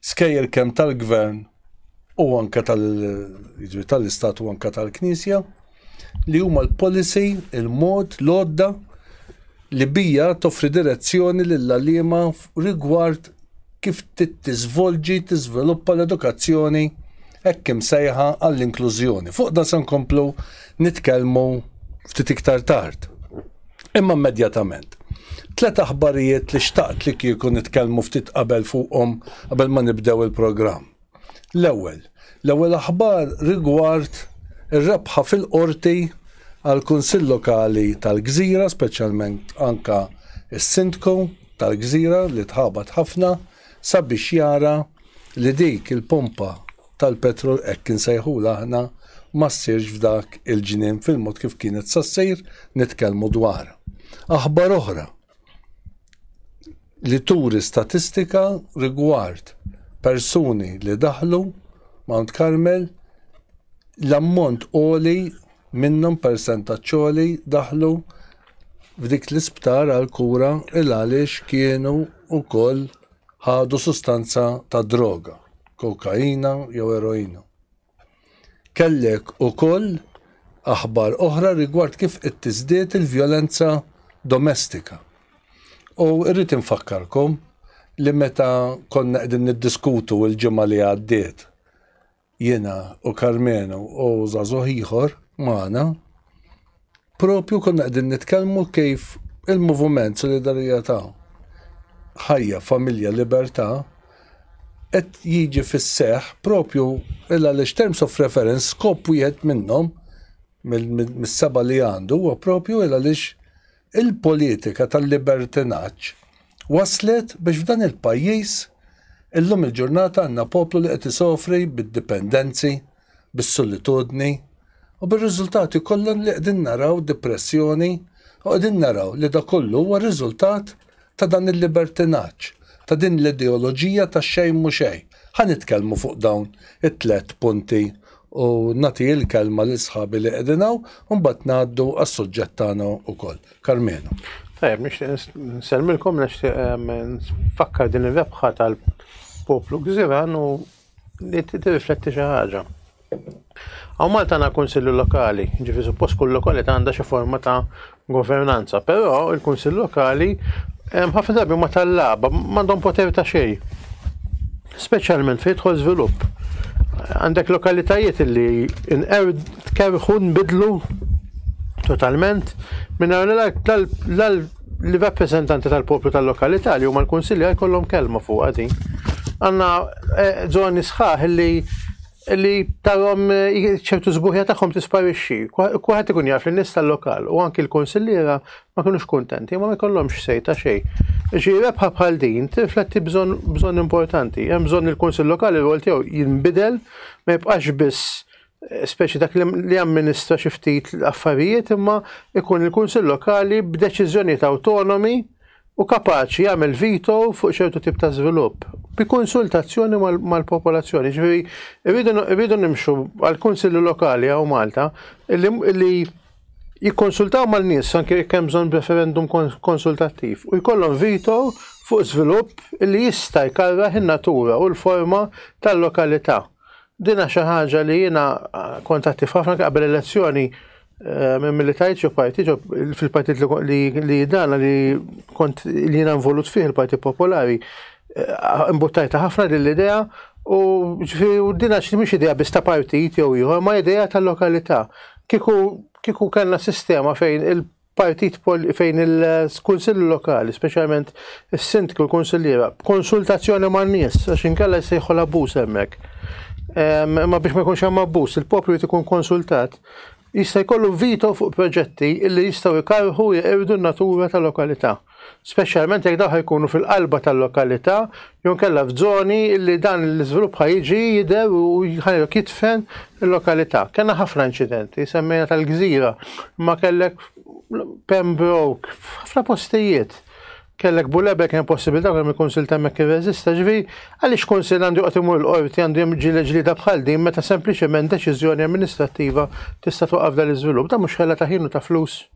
skejjel kemm tal-gvern u anke jiġifieri tal-istat u anke tal-knisja li huma l-policy, il-mod, l-odda li bija toffri direzzjoni lill-għalliema rigward kif tittiżvolġi tiżviluppa l-edukazzjoni hekk imsejħa għall-inklużjoni. Fuq da se nkomplu nitkellmu ftit iktar tard. Imma immedjatament. Tliet aħbarijiet li xtaqt li kieku nitkellmu ftit qabel fuqhom qabel ma nibdew il-programm. L-ewwel, l-ewwel aħbar rigward ir-rebħa fil-Qorti għall-Kunsill Lokali tal-Gżira, speċjalment anke s-Sindku tal-Gżira li tħabat ħafna sabiex jara li dik il-pompa tal-petrol hekk insejħulha aħna ma ssirx f'dak il-ġnien fil-mod kif kienet sa ssir nitkellmu dwar aħbar oħra li turi statistika rigward persuni li daħlu Mount Carmel l-ammont għoli minnhom persentaġġ għoli daħlu f'dik l-isptar għal kura il għaliex kienu wkoll ħadu sustanza ta' droga, kokaina jew eroina. Kellek ukoll aħbar oħra rigward kif qed tiżdied il-vjolenza domestika. U rrid infakkarkom li meta konna qegħdin niddiskutu l-ġimgħa li għaddiet jiena u Karmenu u żagħżugħ ieħor magħna, propju konna qegħdin nitkellmu kif il-moviment solidarjetà ħajja, familja, libertà qed jiġi fis-seħ propju illa li terms of reference skop wieħed minnhom mis-seba li għandu huwa propju illa lix Il-politika tal-libertinaġġ wasslet biex f'dan il-pajjiż illum il-ġurnata għandna poplu li qed isofri bid-dipendenzi, bis-solitudni u bir-riżultati kollha li qegħdin naraw, dipressjoni, u qegħdin naraw li dak kollu huwa riżultat ta' dan il-libertinaġġ, ta' din l-ideoloġija ta' xejn mhu xejn. Ħa nitkellmu fuq dawn it-tliet punti u nagħti il-kelma lil sħabi li qegħdin hawn u mbagħad ngħaddu għas-suġġett tagħna wkoll. Karmenu. Tajjeb, nixtieq nsellmilkom, nixtieq nfakkar din ir-rebħa tal-poplu Gżiran u li tirrifletti xi ħaġa. Hawn Malta għandna Kunsilli Lokali, jiġifieri suppost kull lokalità għandha xi forma ta' governanza, però il-Kunsill Lokali hemm ħafna drabi ma tal-laba, m'għandhom poter ta' xejn. Speċjalment fejn jidħol żvilupp. Għandek lokalitajiet li inqew tkerħu nbidlu totalment minn li rappreżentanti tal-poplu tal-lokalità li huma l-kunsilja jkollhom kelma fuq din. Għandna żoni eh, sħaħ li li tarom eh, ċertu zbuħja tagħhom tisparixxi. Kwaħed ikun jaf li nies tal-lokal u anki l-konsilliera ma kinux kuntenti, ma jkollhomx sejta xejn. Ġi rebħa bħal din tirfletti bżonn importanti. Hemm bżonn il-Kunsill Lokali rwol tiegħu jinbidel ma jibqax biss eh, speċi dak li amministra xi ftit affarijiet imma ikun il-Kunsill Lokali b'deċiżjonijiet awtonomi Hu kapaċi jagħmel veto fuq ċertu tip ta' żvilupp bi konsultazzjoni mal-popolazzjoni. Ġifieri rridu nimxu għall-kunsilli lokali hawn Malta li jikkonsultaw mal-nies anke jekk hemm bżonn referendum konsultattiv u jkollhom veto fuq żvilupp li jista' jkarrah in-natura u l-forma tal-lokalità. Dina xi ħaġa li jiena kont attiv ħafna qabel elezzjoni eh, minn milli tajt xi parti fil-partit li dana li kont li jiena involut fih il-Partit Popolari. Eh, imbuttajta ħafna din l-idea u ġifieri u dina xi mhix idea biss ta' partit jew ieħor ma' idea tal-lokalità. Kiku kiku kellna sistema fejn partit fejn il-kunsill lokali, speċjalment is-sindku l-kunsilliera, b'konsultazzjoni man-nies, għax inkella jsejħu l-abbuż hemmhekk. Ehm, imma biex ma jkunx hemm abbuż, il-poplu jrid ikun konsultat, jista' jkollu vito fuq proġetti li jistgħu jkarħu jeqirdu n-natura tal-lokalità. speċjalment jekk dawk jkunu fil-qalba tal-lokalità jew inkella f'żoni li dan l-iżvilupp ħa jiġi jidher u ħajlok jitfen il-lokalità. Kellna ħafna inċidenti, semmejna tal-gżira, imma kellek Pembroke, ħafna postijiet. Kellek bulebe kien possibilità kemm il-Kunsil temmek irreżista ġvi, għaliex Kunsil għandu joqgħod imur l-qorti għandu hemm ġieli ġlida bħal din meta sempliċement deċiżjoni amministrattiva tista' twaqqaf dan l-iżvilupp, dan mhux ħela ta' ħin u ta' flus.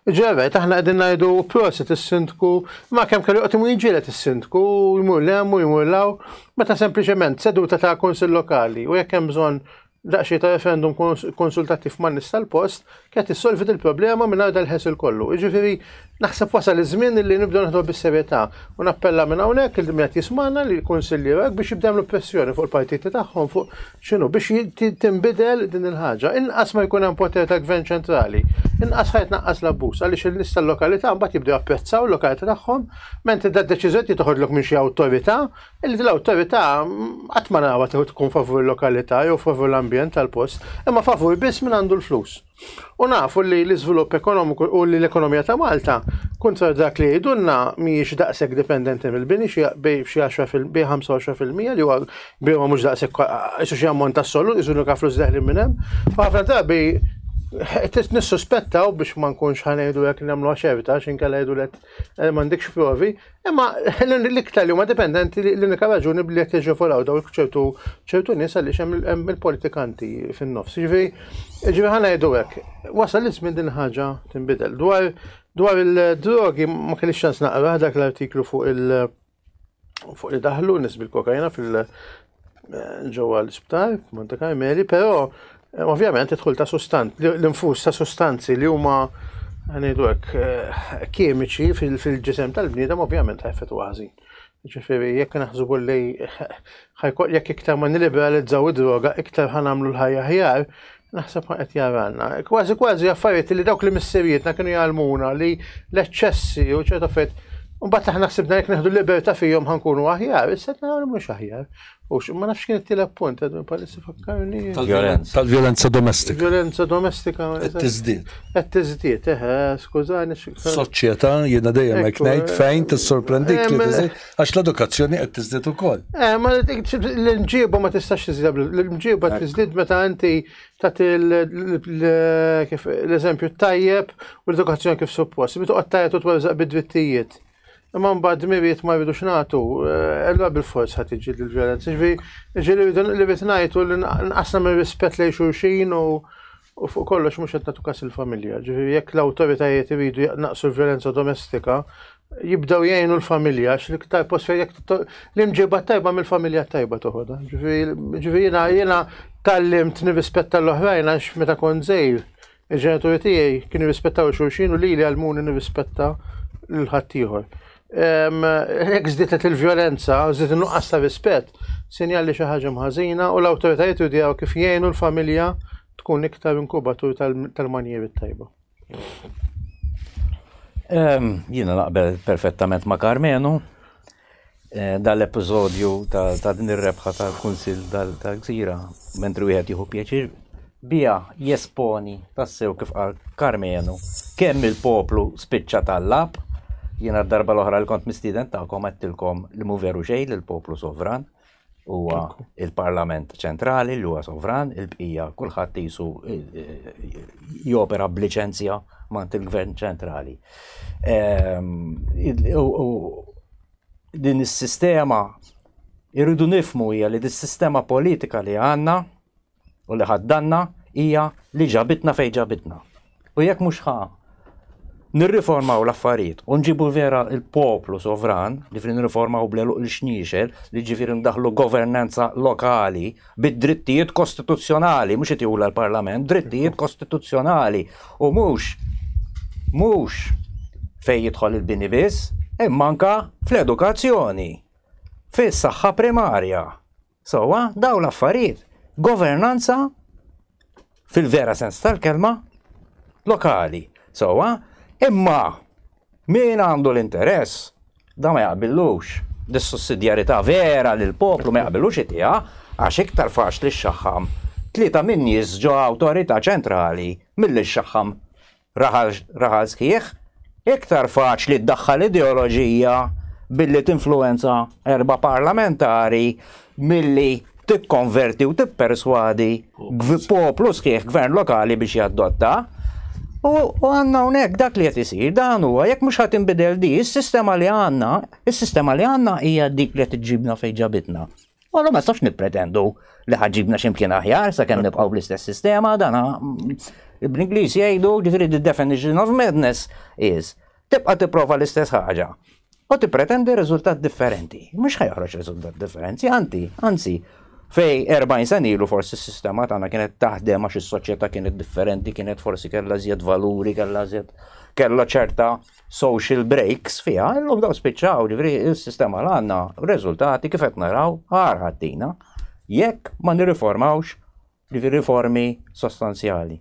Ġej rajt aħna qegħdin ngħidu prosit is-sindku, ma kemm kellu joqgħod imur jiġielet is-sindku, jmur lem u jmur law, meta sempliċement seduta ta' kunsill lokali u jekk hemm bżonn daqsxejn ta' referendum konsultattiv man nies tal-post, kienet issolvi il-problema minn għarda l-ħesil kollu. Jiġifieri naħseb wasal iż-żmien li nibdew naħdu bis-serjetà u nappella minn hawnhekk il min qed jismana li l-kunsilli biex jibdew l-pressjoni fuq il-partiti tagħhom fuq X'inhu biex tinbidel din il-ħaġa? Inqas ma jkun hemm poter ta' gvern ċentrali, inqas ħa jitnaqqas l-abbuż għaliex in-nies tal-lokalità mbagħad jibdew japprezzaw l-lokalità tagħhom, mentri da d-deċiżjoni trid toħodlok minn xi awtorità, li din l-awtorità qatt ma narawha tkun favur il-lokalità jew favur l-ambjent tal-post, imma favur biss min għandu l-flus. U nafu li l-iżvilupp ekonomiku u li l-ekonomija ta' Malta, kontra dak li jgħidulna, mhijiex daqshekk dipendenti mill-bini xi bej xi 10 fil 25% li huwa bini ma mhux daqshekk isu xi ammont assolut, isu nuka flus deħli minn hemm. Ħafna drabi nissuspettaw biex ma nkunx ħanejdu jekk nagħmlu ċerta x'inkella jgħidulek eh, m'għandekx provi, Imma l-iktar li huma dipendenti l-unika raġuni bli qed jiġġeforaw daw ċertu ċertu nies għaliex hemm il-politikanti fin-nofs. Ġifi, ġifi ħana jgħidu hekk, wasal iż-żmien din ħaġa tinbidel. Dwar dwar il-drogi ma kellix ċans naqra dak l-artiklu fuq il- fuq li daħlu nis bil-kokajna eh, ġewwa l-isptar, Monte Carmeli, però eh, ovvjament idħol ta' sustant, l-infus ta' sustanzi li huma għanidu hekk eh, kimiċi fil-ġisem tal-bniedem ovvjament ħajfet għazi. Ġifiri, jekk naħsbu li jekk iktar ma niliberalizzaw id-droga, iktar ħanamlu l-ħajja ħjar, Naħseb ma qed jaranna. Kważi kważi affarijiet li dawk li missirijietna kienu jgħallmuna li l-eċċessi u ċerta affarijiet Mbagħad aħna ħsibna jekk neħdu libertà fihom ħankunu aħjar, issa qed naraw li mhux aħjar. U ma nafx kien it-tielet punt, għadu palissa fakkarni. Tal-violenza domestika. Violenza domestika. Qed tiżdied. Qed tiżdied, eħe, skużani. Soċjetà jiena dejjem hekk ngħid fejn tissorprendik li Għax l-edukazzjoni qed tiżdied ukoll. Eh, ma l-imġiba ma tistax tiżdied, l-imġiba tiżdied meta inti tagħti l-eżempju tajjeb u l-edukazzjoni kif suppost. Bitu qatt tajjeb u tweżaq bid-drittijiet. Imma mbagħad miriet ma jridux nagħtu, eh, ella bil-forz ħadd iġi l-vjolenza. Ġifieri li rridu li rid ngħid u li nqasna minn rispett lejn xulxin u U fuq kollox mhux qed nagħtu każ il-familja. Ġifieri jekk l-awtoritajiet iridu jaqnaqsu l-vjolenza domestika, jibdew jgħinu l-familja għax l-iktar post fejn jekk l-imġiba tajba mill-familja tajba toħodha. Ġifieri jiena jiena tallimt nirrispetta l-oħrajn għax meta kont żgħir il-ġenituri tiegħi kienu jirrispettaw xulxin u lili għalmuni nirrispetta l-ħaddieħor. Hekk żdietet il-vjolenza, żdiet in-nuqqas ta' rispett, sinjal li xi ħaġa mħażina u l-awtoritajiet judjaw kif jgħinu l-familja tkun iktar inkubatur tal-manjieri tajba. Jiena naqbel perfettament ma' Karmenu eh, dal-episodju ta' din ir-rebħa tal-Kunsil tal-Gżira, mentri wieħed jieħu pjaċir Biha jesponi tassew kif qal Karmenu kemm il-poplu spiċċa tallab. Jiena d-darba l-oħra li kont mistieden tagħkom għedtilkom li mhu veru xejn li l-poplu sovran huwa il-Parlament ċentrali li huwa sovran, il-bqija kulħadd isu jopera b'liċenzja mant il-Gvern ċentrali. Ehm, din is-sistema irridu nifmu hija li dis-sistema politika li għandna u li ħaddanna hija li ġabitna fejn ġabitna. U jekk mhux ħa nirriformaw l-affarijiet u nġibu vera il-poplu sovran li fri nirriformaw bleluq il-xniexel li ġifir ndaħlu governanza lokali bid-drittijiet kostituzzjonali mhux qed l-Parlament, drittijiet kostituzzjonali u mhux mhux fejn jidħol il-bini biss, imma anka fl-edukazzjoni, fis-saħħa primarja. Sewwa, dawn l-affarijiet, governanza fil-vera sens tal-kelma lokali. Sewwa, imma min għandu l-interess da ma jaqbillux dis-sussidjarità vera li l-poplu ma jaqbillux itiha għax iktar faċli xxaħħam tlieta min-nies ġo awtorità ċentrali milli xxaħħam Raħal raħal sħiħ, iktar faċli ddaħħal ideoloġija billi tinfluwenza erba' parlamentari milli tikkonverti u tipperswadi poplu sħiħ gvern lokali biex jaddotta. U għanna unek dak li qed isir dan huwa jekk mhux ħadd inbidel di, is-sistema li għandna, is-sistema li għandna hija dik li qed iġġibna fejn ġabitna. Għallu ma nistax nippretendu li ħagġibna ximkien aħjar sa' kemm nibqaw bl-istess sistema, dana mm, bl-Inglis jgħidu ġifiri the definition of madness is tibqa' tipprova l-istess ħaġa u tippretendi riżultat differenti. Mhux ħajħroġ riżultat differenti, anti, anzi, fej 40 sen ilu forsi s-sistema tagħna kienet taħdem għax is-soċjetà kienet differenti, kienet forsi kellha żjed valuri, kellha żjed kellha ċerta social breaks fiha, illum daw spiċċaw ġifri il-sistema l għanna rezultati kif qed naraw ħar ħaddina jekk ma nirriformawx ġifri riformi sostanzjali.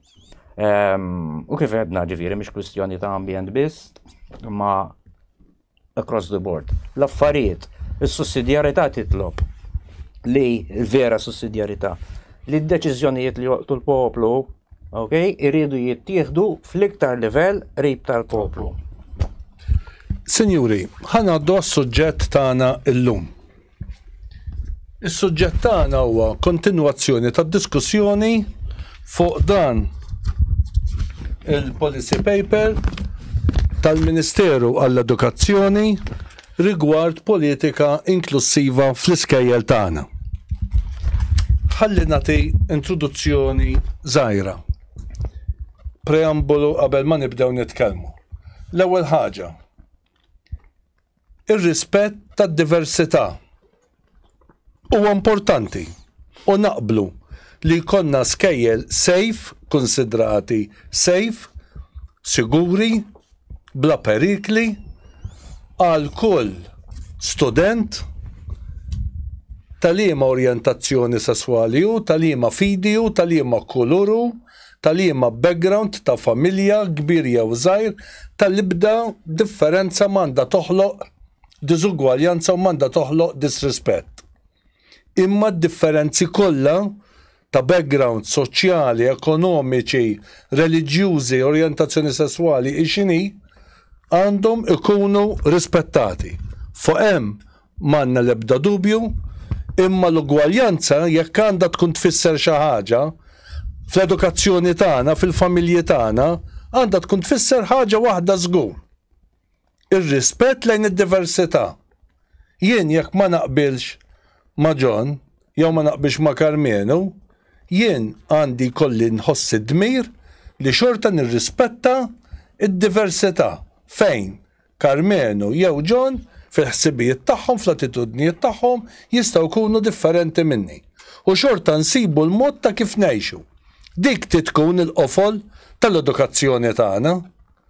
Ehm, u kif għedna ġifiri mhix kwistjoni ta' ambjent biss ma across the board. L-affarijiet, is-sussidjarità titlob li vera sussidjarità li d-deċiżjonijiet li joqtu l-poplu Ok, iridu jittieħdu fl-iktar livell qrib tal-poplu. Sinjuri, ħanaddu għas-suġġett tagħna llum. Is-suġġett tagħna huwa kontinwazzjoni tad-diskussjoni fuq dan il-policy paper tal-Ministeru għall-Edukazzjoni rigward politika inklussiva fl-iskejjel tagħna. Ħalli nagħti introduzzjoni żgħira. Preambolu qabel ma nibdew nitkellmu. L-ewwel ħaġa, ir-rispett tad-diversità Huwa importanti u naqblu li jkollna skejjel safe, kunsidrati safe, siguri, bla perikli għal kull student ta' liema orjentazzjoni sesswali hu, ta' liema fidi hu, ta' liema kulur hu, ta' liema background ta' familja, kbir jew żgħir, tal-ibda differenza ma għandha toħloq diżugwaljanza u m'għandha toħloq disrispett. Imma d-differenzi kollha ta' background soċjali, ekonomiċi, reliġjużi, orjentazzjoni sesswali hi x'inhi, għandhom ikunu rispettati. Fuq hemm m'għandna l-ebda dubju, imma l-ugwaljanza jekk għandha tkun tfisser xi ħaġa, fl-edukazzjoni tagħna, fil-familji tagħna, għandha tkun tfisser ħaġa waħda żgur. Ir-rispett lejn id-diversità. Jien jekk ma naqbilx ma' John jew ma naqbilx ma' Karmenu, jien għandi jkolli nħoss id-dmir li xorta nirrispetta d-diversità fejn Karmenu jew John fil-ħsibijiet tagħhom, fl-attitudnijiet tagħhom jistgħu jkunu differenti minni. U xorta nsibu l-mod ta' kif ngħixu. Dik trid tkun il-qofol tal-edukazzjoni tagħna.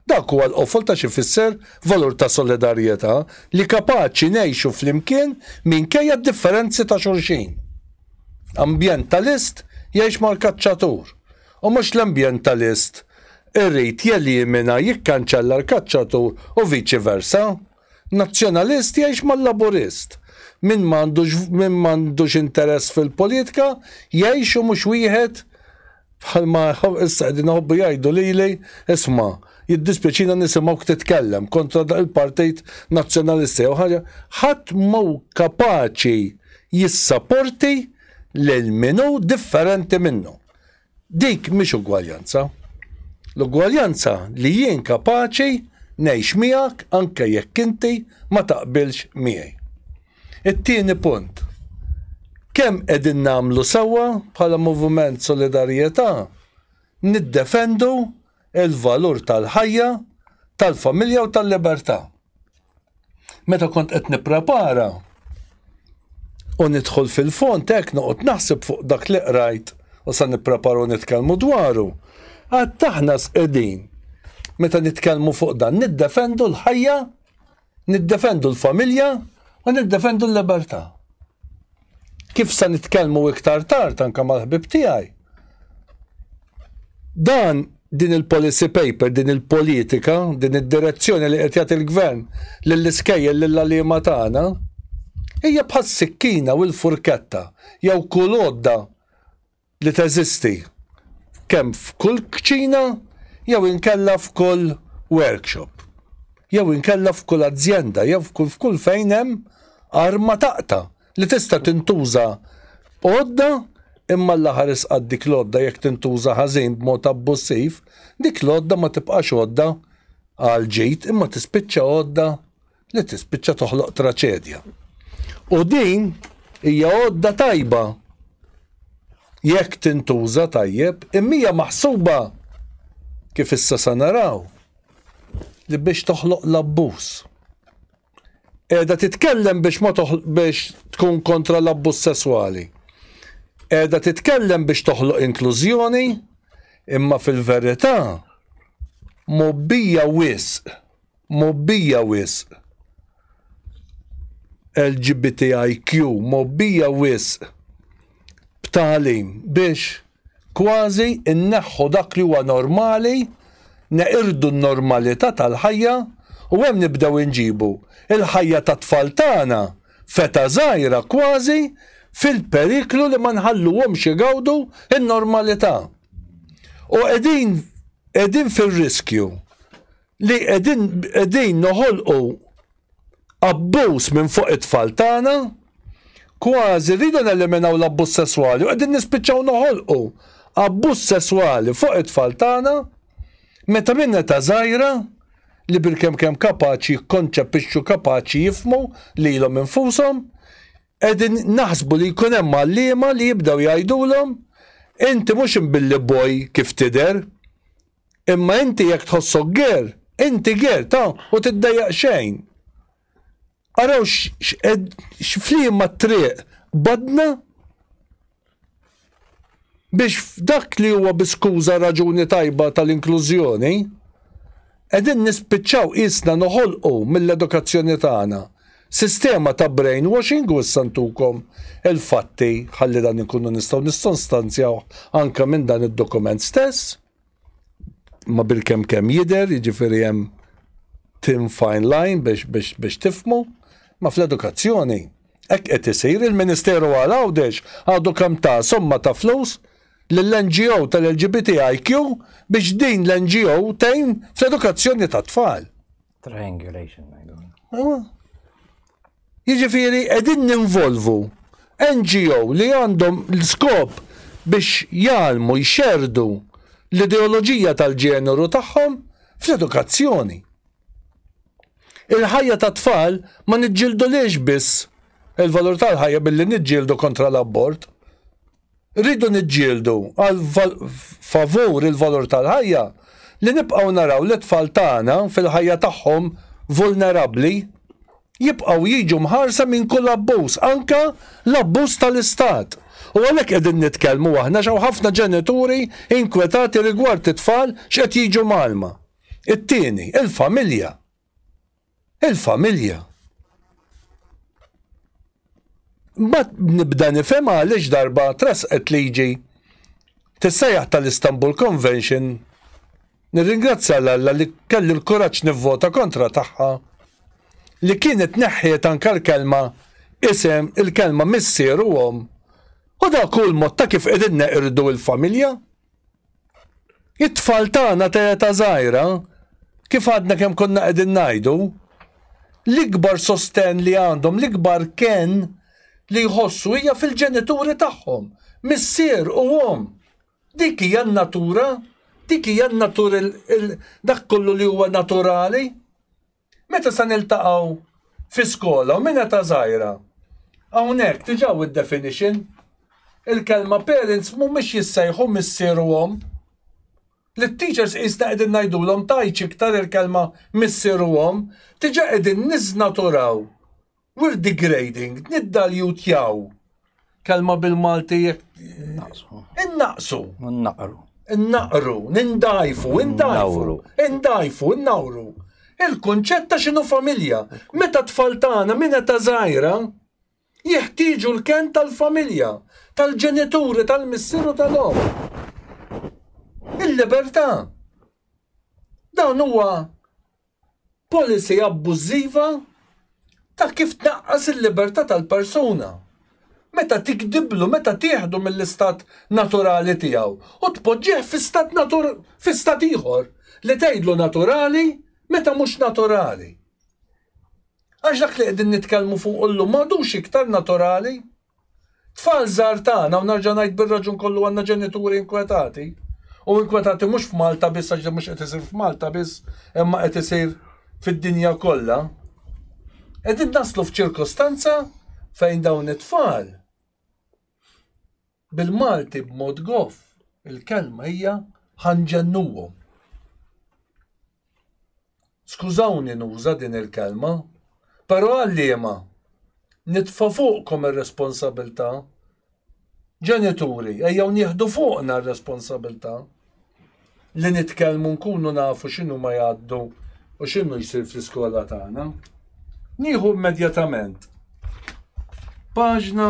Dak huwa l-qofol ta' x'ifisser valur ta' solidarjetà, li kapaċi ngħixu flimkien minkejja d-differenzi ta' xulxin. Ambjentalist jgħix mal-kaċċatur, u mhux l-ambjentalist irid jelimina, jikkanċella l-kaċċatur u viċi versa. Nazzjonalist jgħix mal-Laburist. Min ma għandux min ma għandux interess fil-politika jgħix u mhux wieħed bħalma issa qegħdin iħobbu jgħidu lili, isma' jiddispjaċina nisimgħuk titkellem kontra dak il-partit Nazzjonalista jew ħaġa, ħadd mhu kapaċi jissaporti lil min hu differenti minnu. Dik mhix ugwaljanza. L-ugwaljanza li jien kapaċi ngħix miegħek anke jekk inti ma taqbilx miegħi. It-tieni punt, kemm qegħdin nagħmlu sewwa bħala Moviment Solidarjetà niddefendu il-valur tal-ħajja, tal-familja u tal-libertà. Meta kont qed nipprepara u nidħol fil-fond hekk noqgħod naħseb fuq dak li qrajt u sa nippreparu nitkellmu dwaru. Għad taħna sqedin meta nitkellmu fuq dan niddefendu l-ħajja Niddefendu l-familja u niddefendu l-libertà. Kif se nitkellmu iktar tard anke mal-ħbieb tiegħi, dan din il-policy paper, din il-politika, din id-direzzjoni li qed jagħti l-Gvern lill-iskejjel lill-għalliema tagħna, hija bħas-sikkina u l-furketta jew kull għodda li teżisti kemm f'kull kċina jew inkella f'kull workshop jew inkella f'kull azjenda jew f'kull fejn hemm arma taqta' li tista' tintuża għodda imma l-aħħar isqatt dik l-għodda jekk tintuża ħażin b'mod abbussiv dik l-għodda ma tibqax għodda għall-ġid imma tispiċċa għodda li tispiċċa toħloq traċedja. U din hija għodda tajba jekk tintuża tajjeb, imija maħsuba kif issa sa naraw li biex toħloq l-abbuż. Eda titkellem biex ma biex tkun kontra l-abbuż sesswali. Eda titkellem biex toħloq inklużjoni, imma fil-verità mobbija wisq mgħobbija wisq. LGBTIQ mgħobbija wisq b'tagħlim biex kważi nneħħu dak li huwa normali, neqirdu n-normalità tal-ħajja u hemm nibdew inġibu l-ħajja tat-tfal tagħna f'età żgħira kważi fil-periklu li ma nħalluhomx igawdu n-normalità. U qegħdin qegħdin fir-riskju li qegħdin qegħdin noħolqu abbuż minn fuq it-tfal tagħna, kważi rridu neliminaw l-abbuż sesswali u qegħdin nispiċċaw noħolqu abbuż sesswali fuq it-tfal tagħna meta minn età żgħira li bilkemm kemm kapaċi jikkonċepixxu kapaċi jifmu lilhom infushom qegħdin naħsbu li jkun hemm għalliema li jibdew jgħidulhom inti mhux imbilli boj kif tidher Imma inti jekk tħossok ger, inti ger, ta, u tiddejjaq xejn. Araw x'fliema triq badna biex f'dak li huwa bi skuża raġuni tajba tal-inklużjoni, qegħdin nispiċċaw qisna noħolqu mill-edukazzjoni tagħna Sistema ta' brainwashing u issa ntukom il-fatti ħalli dan inkunu nistgħu nissostanzjawh anke minn dan id-dokument stess. Ma bil-kemm kemm jidher, jiġifieri hemm thin fine line biex biex biex tifhmu, ma fl-edukazzjoni hekk qed isir il-Ministeru għal Għawdex għadu kemm ta somma ta' flus lill-NGO tal-LGBTIQ biex din l-NGO tgħin fl-edukazzjoni tat-tfal. Triangulation ngħidu. Jiġifieri qegħdin ninvolvu NGO li għandhom l-skop biex jgħalmu jxerdu l-ideoloġija tal-ġeneru tagħhom fl-edukazzjoni. Il-ħajja ta' tfal ma niġġildu liex biss il-valur tal-ħajja billi niġġieldu kontra l-abort. Rridu niġġieldu għal favur il-valur tal-ħajja li nibqgħu naraw lit-tfal tagħna fil-ħajja tagħhom vulnerabbli jibqgħu jiġu mħarsa minn kull abbuż, anke l-abbuż tal-istat. U għalhekk qegħdin nitkellmu aħna x'hawn ħafna ġenituri inkwetati rigward it-tfal x'qed jiġu mgħallma. It-tieni, il-familja. il-familja. Mbagħad nibda nifhem għaliex darba trasqet liġi tissejjaħ tal-Istanbul Convention nirringrazzja l Alla li kelli l-kuraġġ nivvota kontra tagħha li kienet neħħiet anke l-kelma isem il-kelma missier u omm u dak hu l-mod ta' kif qegħdin neqirdu l-familja. It-tfal tagħna ta' età żgħira, kif għadna kemm konna qegħdin ngħidu, l-ikbar sostenn li għandhom, l-ikbar ken li jħossu hija fil-ġenituri tagħhom, missier u omm. Dik hija n-natura, dik hija n-natur dak kollu li huwa naturali. Meta se niltaqgħu fi skola u minn età żgħira? Hawnhekk diġà hu d-definition. Il-kelma parents mhumiex jissejħu missier u omm. Lit-teachers qisna qegħdin ngħidulhom tgħidx iktar il-kelma missier u omm, diġà qegħdin niżnaturaw We're degrading, niddaljutjaw. Kelma bil-Malti jek. Naqsu. Innaqsu. Naqru. Innaqru, nindajfu, indajfu, indajfu, innawru. Il-konċett ta' xinu familja. Meta tfal tagħna minn ta' żgħira jeħtieġu l-ken tal-familja, tal-ġenituri, tal-missieru tal-om. Il-libertà. Dan huwa Policy abbużiva ta' kif tnaqqas il-libertà tal-persuna, meta tigdiblu, meta tieħdu mill-istat naturali tiegħu u tpoġġih fi stat natur, fi stat ieħor li tgħidlu naturali meta mhux naturali. Għax dak li qegħdin nitkellmu fuqu llum m'għadux iktar naturali. Tfal żgħar tagħna, u nerġa' ngħid bir-raġun kollu għandna ġenituri inkwetati, u inkwetati mhux f'Malta biss għax mhux qed isir f'Malta biss, imma qed isir fid-dinja kollha. Qegħdin naslu f'ċirkostanza fejn dawn it-tfal bil-Malti b'mod goff il-kelma hija ħanġennuhom. Skużawni nuża din il-kelma, però għalliema, nitfa' fuqkom ir-responsabilità. Ġenituri, ejjew nieħdu fuqna r-responsabilità li nitkellmu nkunu nafu x'inhuma jgħaddu u x'inhu jsir fl-iskola tagħna. Nieħu immedjatament paġna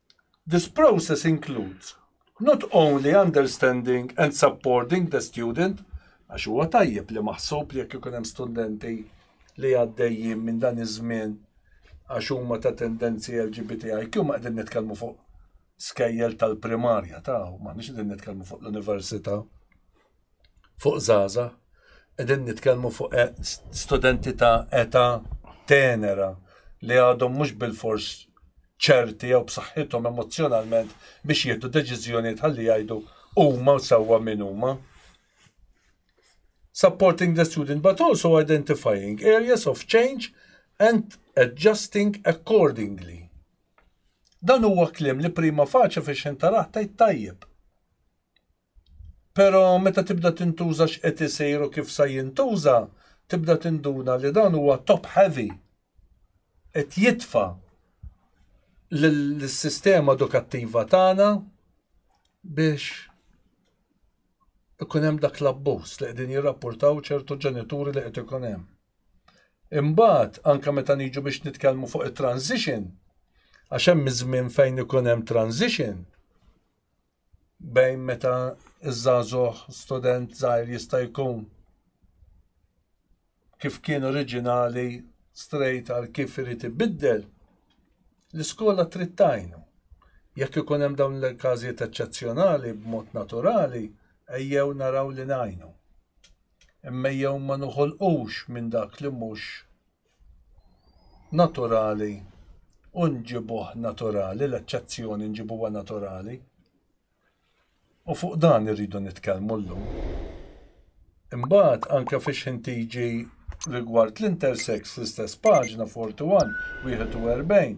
This process includes not only understanding and supporting the student, għax huwa tajjeb li maħsub li jekk ikun hemm studenti li għaddejjin minn dan iż-żmien għax huma ta' tendenzi LGBTIQ ma qegħdin nitkellmu fuq skejjel tal-primarja ta' ma nix qegħdin nitkellmu fuq l-università. fuq żgħażagħ, qegħdin nitkellmu fuq e, studenti ta' età tenera li għadhom mhux bil-fors ċerti jew b'saħħithom emozjonalment biex jieħdu deċiżjonijiet ħalli jgħidu huma u sewwa min huma. Supporting the student but also identifying areas of change and adjusting accordingly. Dan huwa klim li prima faċa fi xintaraħ tajt tajjeb. Pero meta tibda tintuża x'qed isir u kif sa jintuża, tibda tinduna li dan huwa top heavy. Qed jitfa' lis-sistema edukattiva tagħna biex ikun hemm dak l-abbuż li qegħdin jirrappurtaw ċertu ġenituri li qed ikun hemm. Imbagħad anke meta niġu biex nitkellmu fuq it-transition, għax hemm iż-żmien fejn ikun hemm transition, bejn meta iż-żagħżugħ student żgħir jista' jkun kif kien oriġinali strejt għal kif irid ibiddel, l-iskola trid tajnu. Jekk ikun hemm dawn il-każijiet eċċezzjonali b'mod naturali, ejjew naraw li najnu. Imma jew ma nuħolqux minn dak li mhux naturali u nġibuh naturali, l-eċċezzjoni nġibuha naturali. U fuq dan irridu nitkellmu llum. Imbagħad anke fiex ħin tiġi rigward l-intersex fl-istess paġna 41, 41,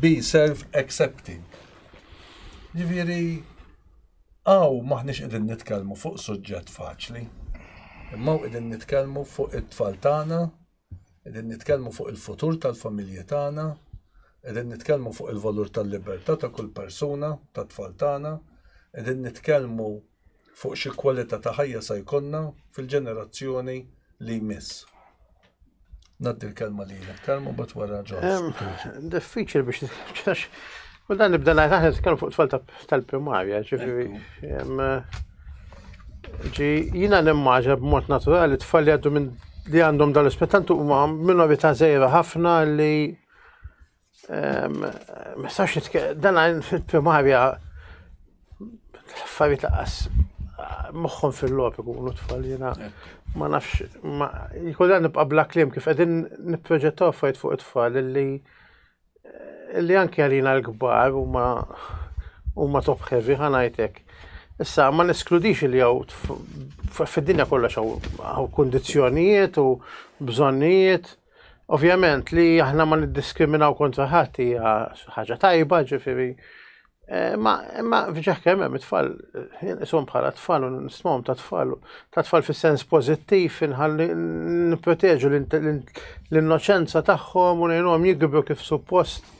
be self-accepting. Ġifieri għaw maħniex qegħdin nitkellmu fuq suġġett faċli. Imma qegħdin nitkellmu fuq it-tfal tagħna, qegħdin nitkellmu fuq il-futur tal-familji tagħna, qegħdin nitkellmu fuq il-valur tal-libertà ta' kull persuna, tat-tfal tagħna, qegħdin nitkellmu fuq xi kwalità ta' ħajja sa jkollna fil-ġenerazzjoni li jmiss. Naddi l-kelma li jilek, kelma bat wara ġon. Diffiċil biex nitkax. U dan nibda najt aħna nitkellmu fuq tfal tal-primarja, ġifieri. Ġi jina nimmaġa b'mod naturali tfal li għaddu minn li għandhom dal-ispettantu huma minorità żejra ħafna li Mistax nitkellem, dan għajn fil-primarja affarijiet laqas moħħom fil-lop ikunu tfal jena. Ma nafx, ma jkollha nibqa' bla kliem kif qegħdin nipproġettaw affarijiet fuq it-tfal li li anke għalina l-kbar u ma u ma top heavy ħanajtek. Issa, ma neskludix li għaw fid-dinja kollha xaw għaw kondizjonijiet u bżonnijiet Ovvjament li aħna ma niddiskriminaw kontra ħadd hija ħaġa tajba, ġifieri eh, ma imma fġaħ kemm hemm it-tfal jinqishom bħala tfal u nismhom ta' tfal ta' tfal fis-sens pożittiv inħalli nipproteġu l-innoċenza tagħhom u ngħinhom jikbru kif suppost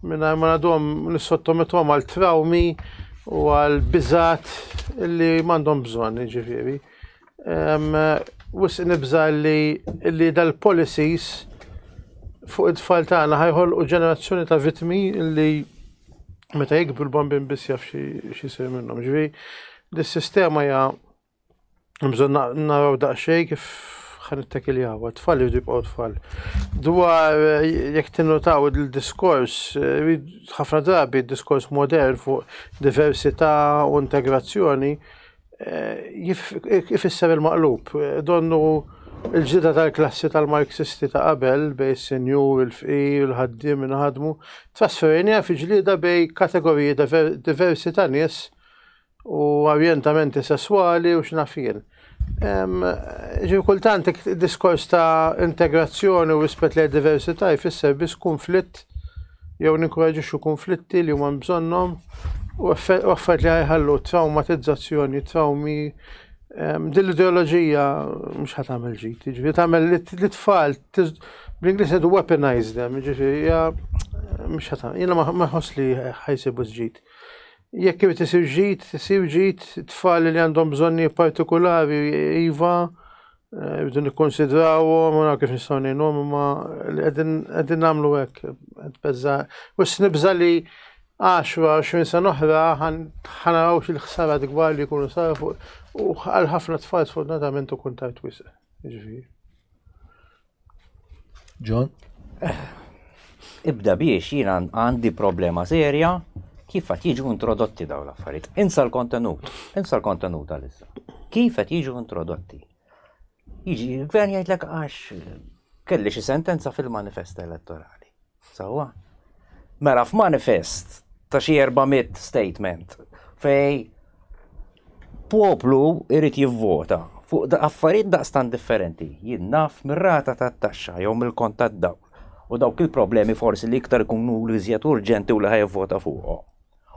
mingħajr ma għadhom nissottometom għal trawmi u għal biżat li m'għandhom bżonn, ġifieri. Wisq nibża li li dal-policies fuq it-tfal tagħna ħajħolqu ġenerazzjoni ta' vitmi li meta jikbru l-bambin biss jaf xisir minnhom. Ġivi, dis-sistema hija bżon naraw daqsxejn kif ħan it-tekiljaw, tfal jridu jibqgħu tfal. Dwar jekk tinnutaw il-diskors, ħafna drabi diskors modern fuq diversità u integrazzjoni, ifisser il-maqlub. Donnu l-ġdida tal-klassi tal-Marxisti ta' qabel bejn is-sinjur, il-fqir, il-ħaddiem, min ħadmu, trasferejniha fi ġlieda bejn kategoriji diversi ta' nies u orjentamenti sesswali u x'naf jien. Ġifieri kultant diskors ta' integrazzjoni u rispett lejn diversità jfisser biss kunflitt jew ninkoraġixxu kunflitti li huma bżonnhom u affarijiet li ħajħallu traumatizzazzjoni, trawmi. Ehm, din l-ideoloġija mhux ħat tagħmel ġid, ġifi tagħmel li tfal bl-Ingliż qed weaponize them, ġifi hija mhux ħat jiena ma ħoss li ħajsibu ġid. Jekk irid isir ġid, isir ġid tfal li għandhom bżonni partikolari iva Rridu nikkonsidrawhom u kif nistgħu ngħinhom imma li qegħdin nagħmlu hekk qed beża' u snibża' li 10-20 sena oħra ħanaraw xi ħsara dgwar li jkunu saru fuq u għal ħafna tfal sfortunatament u kuntajt wisq. Ġifieri. John? Ibda biex jien għandi problema serja kif qed jiġu introdotti dawn l-affarijiet. Insa l-kontenut, insa l-kontenut għalissa. Kif qed jiġu introdotti? Jiġi l-gvern jgħidlek għax kelli xi sentenza fil-manifest elettorali. Sewwa. Mela f'manifest ta' xi 400 statement fej poplu irid jivvota fuq da affarijiet daqstan differenti. Jien naf mir-rata tat-taxxa jew mill-kont tad-dawl u dawk il-problemi forsi li iktar ikunu l-iżjed urġenti u li ħajvota fuqhom.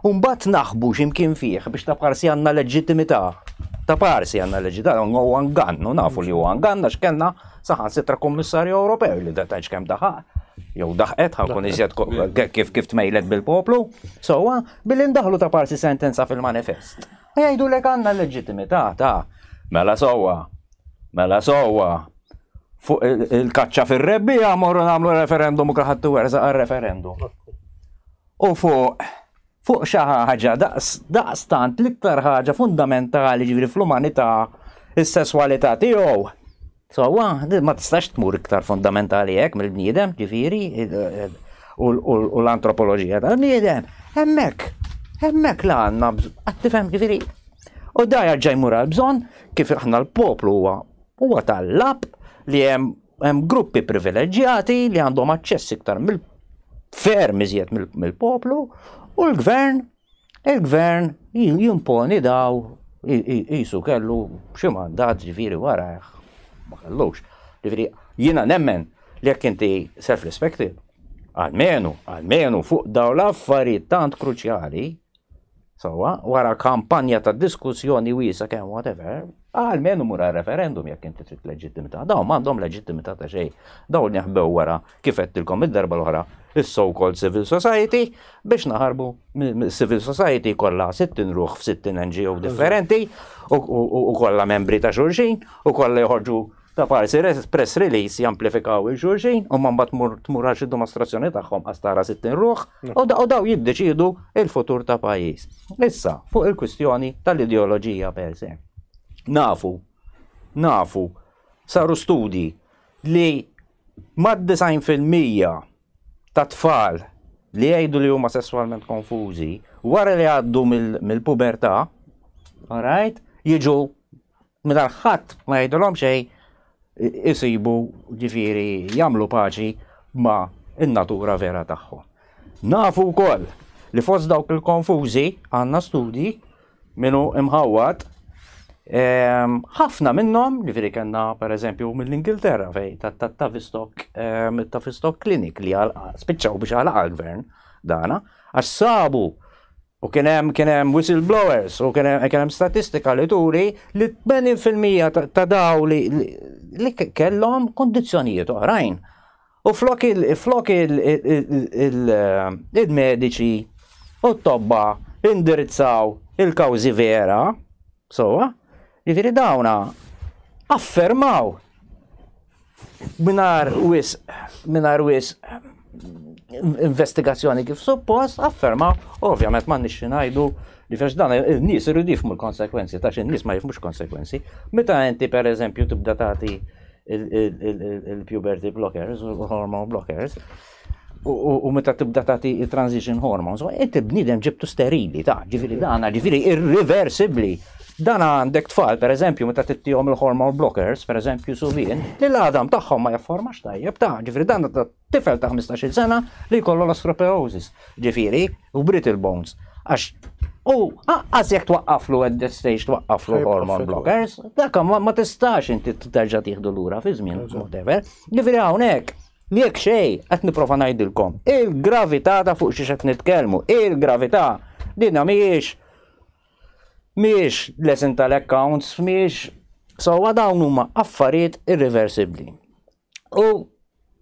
U mbagħad naħbu xi mkien fih biex ta' parsi għandna leġittimità. Ta' parsi għandna leġittimità, huwa ngann, u nafu li huwa ngann għax kellna saħansitra Kummissarju Ewropew li datajx kemm daħaq jew daħqet ħakun iżjed kif kif tmejlet bil-poplu, sewwa billi ndaħlu ta' parsi sentenza fil-manifest. Jgħidu lek għandna l-leġittimità ta' mela sewwa, mela sewwa, fuq il-kaċċa fir-rebbija morru nagħmlu referendum u kaħadd werżaq għar-referendum. u fuq fuq xi ħaġa daqs daqstant l-iktar ħaġa fundamentali ġifieri fl-umanità is-sesswalità tiegħu. Sewwa, ma tistax tmur iktar fundamentali hekk mill-bniedem, ġifieri u l-antropoloġija tal-bniedem. Hemmhekk, hemmhekk la għandna qed tifhem ġifieri. U da jarġa' jmur għal bżonn kif aħna l-poplu huwa huwa tal-lab li hemm Hemm gruppi privileġġjati li għandhom aċċess iktar mill ferm iżjed mill-poplu u l-gvern il-gvern jimponi daw jisu kellu xi mandat ġifieri wara ma kellux. Ġifieri jiena nemmen li jekk inti self-respected, għalmenu, għalmenu fuq daw l-affarijiet tant kruċjali, Sowa, wara kampanja ta' diskussjoni wiesa kemm whatever, għal menu mura referendum jekk inti trid leġittimità. Dawn m'għandhom leġittimità ta' xejn. Dawn jaħbew wara kif qedtilkom id-darba l-oħra is-so-called civil society biex naħarbu civil society kollha 60 ruħ f'60 NGO differenti u kollha membri ta' xulxin u kollha joħorġu Ta' parsi press release jamplifikaw il xulxin u man bat tmur għax id-dimostrazzjoni tagħhom għas tara 60 ruħ u daw jiddeċidu il-futur ta' pajjiż. Issa, fuq il-kwistjoni tal-ideoloġija per se. Nafu, nafu, saru studji li mad 90% ta' tfal li jgħidu li huma sesswalment konfużi wara li għaddu mill-pubertà, alright, jiġu Mingħajr ħadd ma jgħidilhom xejn isibu ġifieri jagħmlu paċi ma' n-natura vera tagħhom. Nafu wkoll li fost dawk il-konfużi għandna studji min hu imħawwad ehm, ħafna minnhom, ġifieri kellna pereżempju mill-Ingilterra fej tat-Tavistock ehm, Tavistock Clinic li spiċċaw biex għalaq għall-gvern dana għax sabu U kien hemm kien hemm whistleblowers u kien hemm kien hemm statistika li turi li 80% ta' daw li li kellhom kondizzjonijiet oħrajn. U flok il flok il il-mediċi u t-tobba indirizzaw il-kawżi vera, sowa, jiġifieri dawna affermaw Mingħajr wisq, mingħajr wisq investigazzjoni kif suppost, afferma, ovvjament ma nixxi ngħidu li fex dan il-nies irridu jifmu l-konsekwenzi, ta' xin nies ma jifmux konsekwenzi. Meta inti per eżempju tibda tagħti il-puberty blockers, hormone blockers, u meta tibda tagħti transition hormones, inti bniedem ġibtu sterili ta' ġifieri dana ġifieri irreversibbli. Dan għandek tfal, per eżempju, meta tittihom il-hormone blockers, per eżempju, suvin, li l-għadam tagħhom ma jafformax tajjeb ta' ġifieri dan ta' tifel ta' 15-il sena li jkollu l-osteoporosis, ġifieri, u brittle bones. Għax u għaqqas jekk twaqqaflu at that stage twaqqaflu hormone blockers, dak ma tistax inti terġa' tieħdu lura fi żmien, whatever. Ġifieri hawnhekk Jekk xejn, qed nipprova ngħidilkom, il-gravità ta' fuq xiex qed nitkellmu, il-gravità dinha mhijiex mhijiex lesson tal-accounts, mhijiex sewwa dawn huma affarijiet irreversibbli. U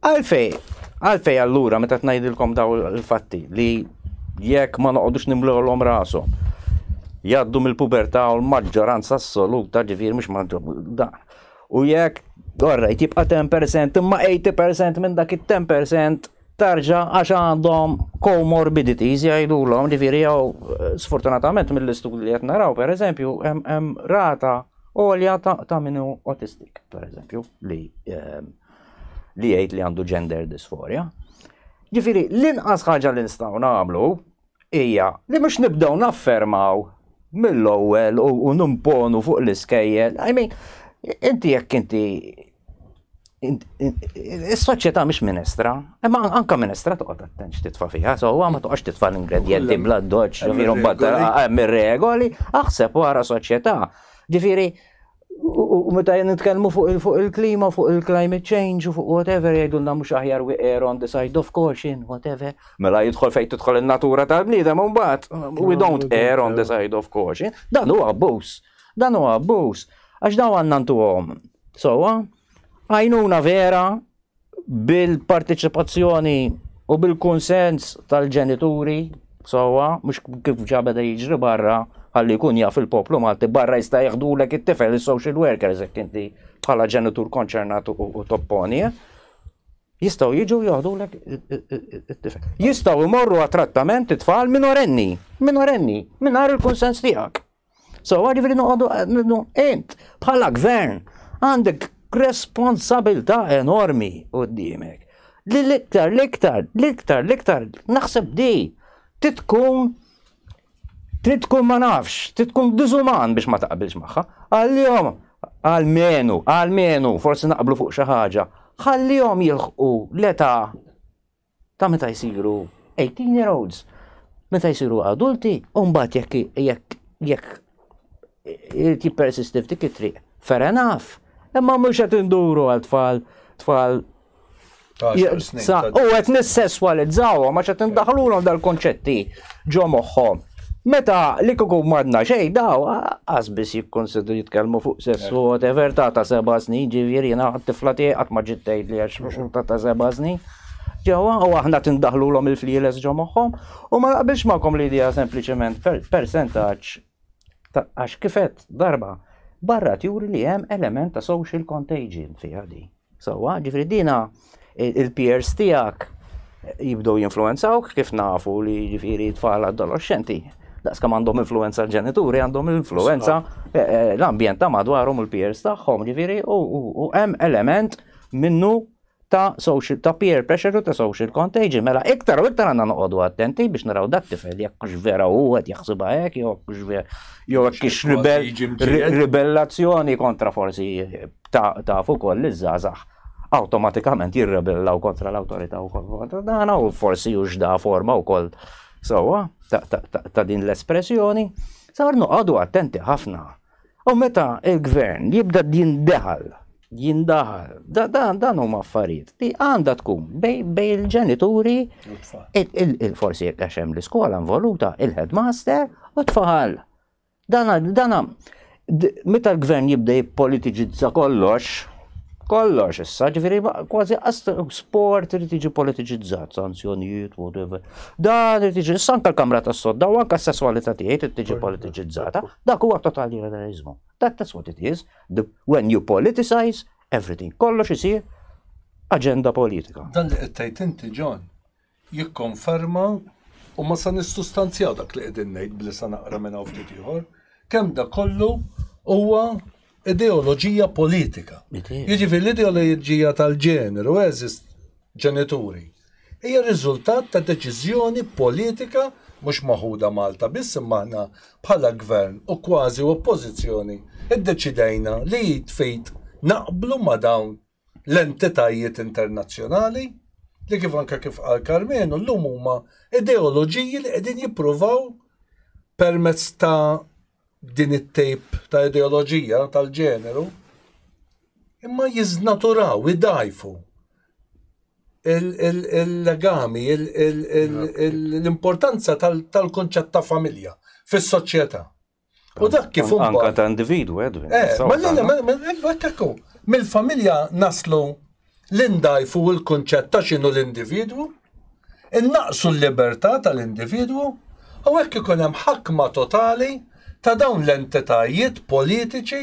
għalfej, għalfej allura meta tnajdilkom daw il-fatti li jekk ma noqogħdux nimlewlhom rashom jgħaddu mill-pubertà u l-maġġoranza assoluta ġifier mhux maġġoranza U jekk, orrejt, jibqa' 10% imma 80% minn dak it-10% tarġa għax għandhom comorbidities jgħidulhom, ġifieri jew eh, sfortunatament mill-istudji li qed naraw pereżempju hemm rata għolja ta' minnu autistic, pereżempju, li ehm, li jgħid li għandu gender dysphoria. Ġifieri l-inqas ħaġa li nistgħu nagħmlu hija li mhux nibdew naffermaw mill-ewwel u nimponu fuq l-iskejjel. I mean, inti jekk inti Is-soċjetà mhix minestra, imma anka minestra toqgħod attent x'titfa' fiha, so ma toqgħodx titfa' l-ingredjenti bla doċċ, ġifieri mbagħad hemm ir-regoli, aħseb wara soċjetà. Ġifieri U meta nitkellmu fuq il-klima, fuq il-climate change, fuq whatever, jgħidulna mhux aħjar we err on the side of caution, whatever. Mela jidħol fejn tidħol in-natura tal-bniedem u mbagħad we don't err on the side of caution. Dan huwa abbuż. Dan huwa abbuż. Għax daw għandna ntuhom. Sowa, għajnuna vera bil-parteċipazzjoni u bil-kunsens tal-ġenituri sewwa mhux kif ġa beda jiġri barra ħalli jkun jaf il-poplu Malti barra jista' jeħdulek it-tifel is-social workers hekk inti bħala ġenitur konċernat u topponi. Eh? Jistgħu jiġu joħdulek it-tifel. Jistgħu jmorru għat-trattament it-tfal minorenni, minorenni, mingħajr il-kunsens tiegħek. So, ġifiri noqogħdu int bħala gvern għandek responsabilità enormi qudiemek. Li l-iktar, l-iktar, l-iktar, l-iktar, naħseb di, titkun titkun ma nafx, titkun diżuman biex ma taqbilx magħha. Għal-jom, għal-menu, għal-menu, forsi naqblu fuq xi ħaġa, ħallihom jilħqu l-età ta' meta jsiru 18 year olds, meta jsiru adulti, u mbagħad jekk jekk jekk irid jippersisti f'dik it-triq. Fair enough. Imma mhux qed induru għal tfal tfal U qed nissesswalizzawhom għax qed indaħlulhom dal-konċetti ġo moħħhom. Meta li kukum madna xejn daw qas biss jikkonsidru jitkellmu fuq sessu eh. whatever ta' ta' seba' snin ġifieri jiena tifla tiegħi qatt ma ġiet tgħidli għax ta' ta' seba' snin. Ġewwa u aħna tindaħħlulhom il-flieles ġo moħħhom u ma naqbilx magħkom li dija sempliċement persentaġġ ta' għax kif għedt darba barra tjuri li hemm element ta' social contagion fiha di. Sewwa, ġifri dina il-peers tiegħek jibdew jinfluenzawk kif nafu li ġifieri tfal adolescenti daqskam għandhom influenza l-ġenituri, għandhom influenza eh, eh, l-ambjent ta' madwarhom il-peers tagħhom, ġifieri u hemm element minnu ta' social, ta' peer pressure u ta' social contagion. Mela iktar u iktar għandna noqogħdu attenti biex naraw dat tifel jekk hux vera u qed jaħsibha hekk jew hux vera jew hekk ix ribellazzjoni kontra forsi ta' fuq ukoll iż-żgħażagħ awtomatikament jirrebellaw kontra l-awtorità u kontra dan u forsi hux da forma wkoll sewwa ta' din l-espressjoni. Sar noqogħdu attenti ħafna U meta il-gvern jibda jindaħal, jindaħal, dan huma affarijiet li għandha tkun bej il-ġenituri, il-forsi jekk għax hemm l-iskola involuta, il-headmaster u tfal. Dan dan meta l-gvern jibda jippolitiġizza kollox, kollox issa, ġifiri kważi sport irid jiġi politiċizzat, sanzjonijiet, whatever. Dan irid jiġi issa anke l-kamra tas-sodda u anke s-sesswalità tiegħi irid tiġi politiċizzata. Dak huwa totali liberalizmu. That that's what it is. The, when you politicize everything, kollox isir aġenda politika. Dan li qed tgħid inti John, jikkonferma u ma sa nissustanzjaw dak li qegħdin ngħid bli sa naqra minn hawn ftit ieħor, kemm da kollu huwa ideoloġija politika. Jiġifieri l-ideoloġija tal-ġeneru eżis ġenituri hija riżultat ta' deċiżjoni politika mhux maħuda Malta biss imma aħna bħala gvern u kważi oppożizzjoni iddeċidejna li jitfejt naqblu ma' dawn l-entitajiet internazzjonali li kif anka kif qal Karmenu llum huma ideoloġiji li qegħdin jippruvaw permezz ta' din it-tejp ta' ideoloġija tal-ġeneru imma jiznaturaw, idajfu il-legami, l-importanza tal-konċett ta' familja fis-soċjetà. U dak kif un. Anka ta' individu, Edwin. Eh, ma l-għana, ma l-għana, mill-familja naslu l-indajfu il-kunċett ta' xinu l-individu, innaqsu l-libertà tal-individu, u hekk ikun hemm ħakma totali ta' dawn l-entitajiet politiċi,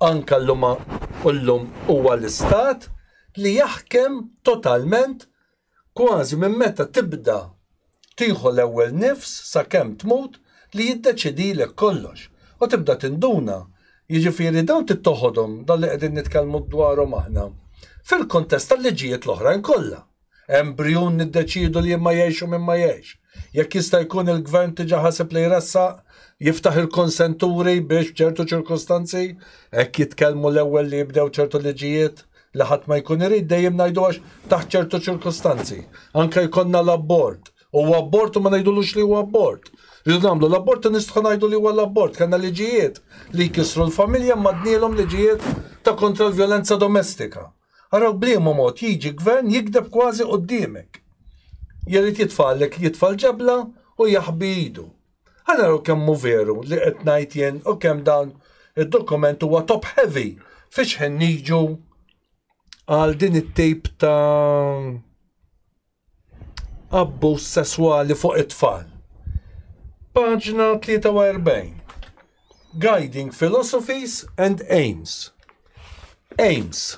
anka l-lum huwa l-istat, li jaħkem totalment Kważi minn meta tibda tieħu l-ewwel nifs sakemm tmut li jiddeċidilek kollox u tibda tinduna, jiġifieri dawn trid toħodhom dawn li qegħdin nitkellmu dwarhom aħna fil-kuntest tal-liġijiet l-oħrajn kollha. Hemm brijun niddeċiedu li imma jgħix u min ma jgħix. Jekk jista' jkun il-Gvern diġà ħaseb li jressaq, jiftaħ il-konsenturi biex f'ċertu ċirkustanzi, hekk jitkellmu l-ewwel li jibdew ċertu liġijiet li ħadd ma jkun irid dejjem ngħidu għax taħt ċertu ċirkustanzi. Anke jkollna l-abbord. Huwa abbord u ma ngħidulux li huwa abbord. Rridu nagħmlu l-abbord u nistħu ngħidu li huwa l-abbord. Kellna liġijiet li jkissru l-familja madnielhom liġijiet ta' kontra l-vjolenza domestika. Araw bliema mod jiġi gvern jikdeb kważi quddiemek. Jerid jitfallek jitfal ġebla u jaħbi idu. Ħa naraw kemm hu veru li qed ngħid jien u kemm dan id-dokument huwa top heavy fiex ħin niġu għal din it-tip ta' abbuż sesswali fuq it-tfal. Paġna 43. Guiding Philosophies and Aims. Aims.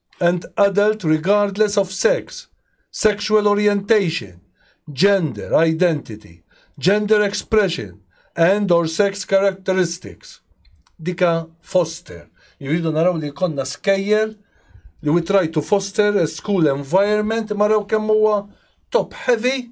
and adult regardless of sex, sexual orientation, gender identity, gender expression and or sex characteristics. Dika foster. Jridu naraw li konna skejjer li we try to foster a school environment maraw kemm huwa top heavy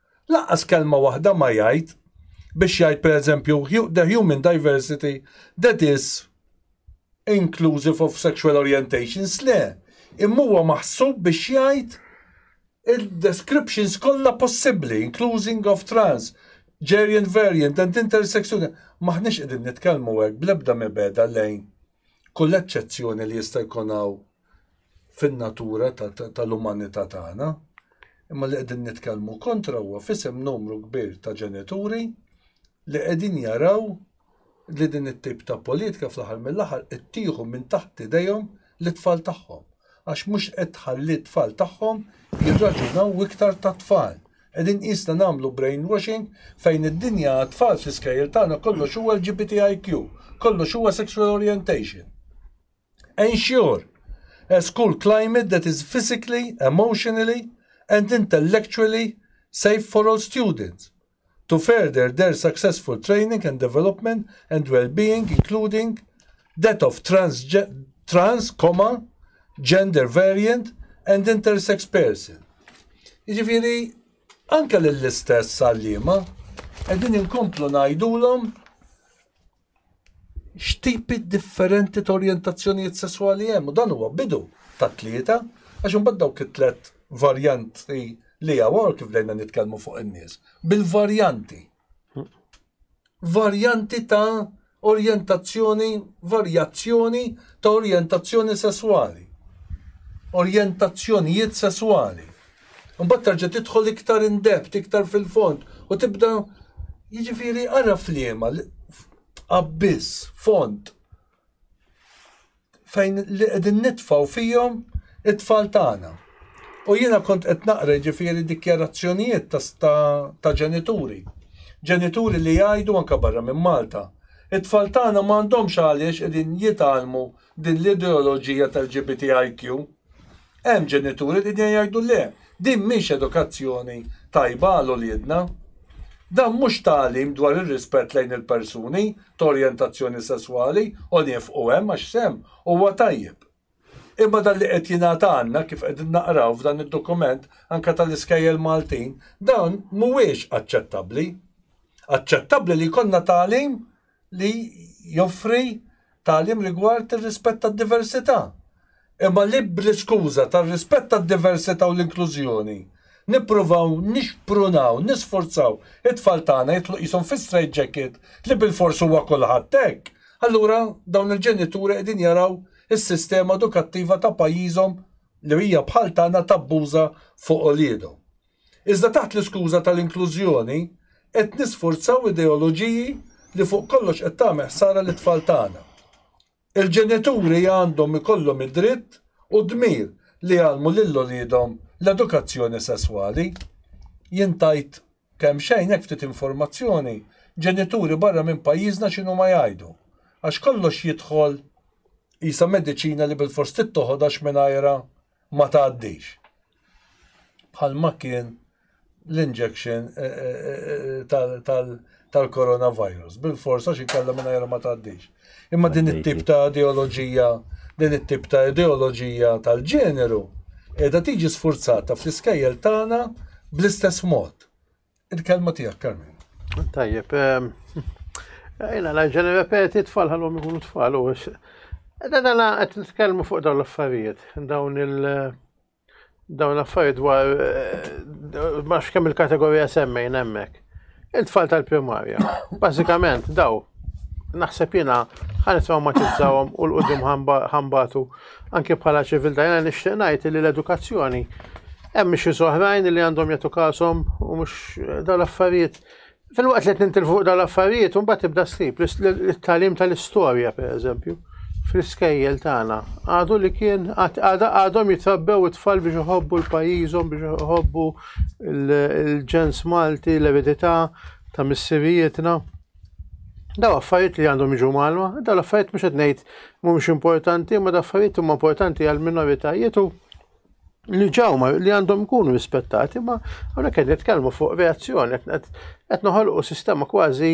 Lanqas kelma waħda ma jgħid biex jgħid pereżempju the human diversity that is inclusive of sexual orientations, le, imma huwa maħsub biex jgħid il-descriptions kollha possibbli, including of trans, geriant variant and intersexual. M'aħniex qegħdin nitkellmu hekk bl-ebda mibegħda lejn Kull eċċezzjoni li jista' jkun hawn fin-natura tal-umanità tagħna, imma li qegħdin nitkellmu kontra huwa fisem numru kbir ta' ġenituri li qegħdin jaraw li din it-tip ta' politika fl-aħħar mill-aħħar qed tieħu minn taħt idejhom lit-tfal tagħhom. Għax mhux qed tħalli t-tfal tagħhom jirraġunaw iktar tat-tfal. Qegħdin qisna nagħmlu brainwashing fejn id-dinja għat-tfal fl-iskejjel tagħna kollox huwa LGBTIQ, kollox huwa sexual orientation. Ensure a school climate that is physically, emotionally and intellectually safe for all students to further their successful training and development and well-being including That of trans, gender variant and intersex person. Jiġifieri anke lill-istess għalliema qegħdin inkomplu ngħidulhom x'tipi differenti ta' orjentazzjonijiet sesswali hemm u dan huwa bidu ta' tlieta għax imbagħad dawk it-tlet varjanti li hawn kif dejna nitkellmu fuq in-nies bil-varjanti. varjanti ta' orjentazzjoni, varjazzjoni ta' orjentazzjoni sesswali, orjentazzjonijiet sesswali. Mbagħad terġa' tidħol iktar in depth, iktar fil-fond u tibda jiġifieri ara fliema abbiss, fond fejn li qegħdin nitfaw fihom it-tfal tagħna. U jiena kont qed naqra ġifieri dikjarazzjonijiet ta' ġenituri. Ġenituri li jgħidu anke barra minn Malta. It-tfal tagħna m'għandhomx għaliex qegħdin jitgħallmu din l-ideoloġija tal-GBTIQ. Hemm ġenituri li qegħdin jgħidu le, din mhix edukazzjoni tajba għal uliedna. Dan mhux tagħlim dwar ir-rispett lejn il-persuni ta' orjentazzjoni sesswali u niefqu hemm għax sehem huwa tajjeb. Imma dan li qed jingħad għandna, kif qegħdin naqraw f'dan id-dokument anke tal-iskejjel Maltin, dan mhuwiex aċċettabbli. Aċċettabbli li jkollna tagħlim li joffri tagħlim rigward ir-rispett tad-diversità. Imma li bl-iskuża tar-rispett tad-diversità u l-inklużjoni nippruvaw nixprunaw, nisforzaw it-tfal tagħna jitlu qishom fi straight jacket li bilfors huwa kulħadd hekk, allura dawn il-ġenituri qegħdin jaraw is-sistema edukattiva ta' pajjiżhom li hija bħal tagħna tabbuża fuq uliedhom. Iżda taħt l-iskuża tal-inklużjoni qed nisfurzaw ideoloġiji li fuq kollox qed tagħmel ħsara lit-tfal tagħna. Il-ġenituri għandhom ikollhom id-dritt u d-dmir li jgħallmu lil uliedhom l-edukazzjoni sesswali. Jien tajt kemxejn hekk ftit informazzjoni, ġenituri barra minn pajjiżna x'inhuma jgħidu. Għax kollox jidħol qisha mediċina li bilfors tittoħod għax mingħajrha ma tgħaddix. Bħalma kien l-injection eh, eh, eh, tal-coronavirus. Bil-forsa xi kellha mingħajr ma tgħaddix. Imma din it-tip ta' ideoloġija, din it-tip ta' ideoloġija tal-ġeneru, qiegħda tiġi sfurzata fl-iskejjel tagħna bl-istess mod. Il-kelma tiegħek, Carmen. Tajjeb, ehm, jina la ġeni repeti tfal ħallhom ikunu tfal u Edha dana qed nitkellmu fuq dawn l-affarijiet, dawn il- dawn l-affarijiet dwar eh, ma kemm il-kategorija semmejn hemmhekk. Il-tfal tal-primarja, bażikament daw naħseb jiena ħan traumatizzawhom u l-qudiem ħambatu Anke bħala ċiviltà jiena nixtieq ngħid li l-edukazzjoni hemm xi soħrajn li għandhom jagħtu kasom u mhux eh, dawn l-affarijiet. Fil-waqt li qed fuq dawn l-affarijiet u mbagħad tibda ssib l-tagħlim tal-istorja pereżempju fl-iskejjel tagħna. Għadu li kien għadhom jitrabbew it-tfal biex iħobbu l-pajjiżhom biex iħobbu l-ġens Malti, l-eredità ta' missirijietna. Daw affarijiet li għandhom jiġu malwa, daw l-affarijiet mhux qed ngħid mhumiex importanti, imma daw affarijiet huma importanti għal minoritajiet u li ġawma li għandhom ikunu rispettati, ma hawnhekk qed nitkellmu fuq reazzjoni qed noħolqu sistema kważi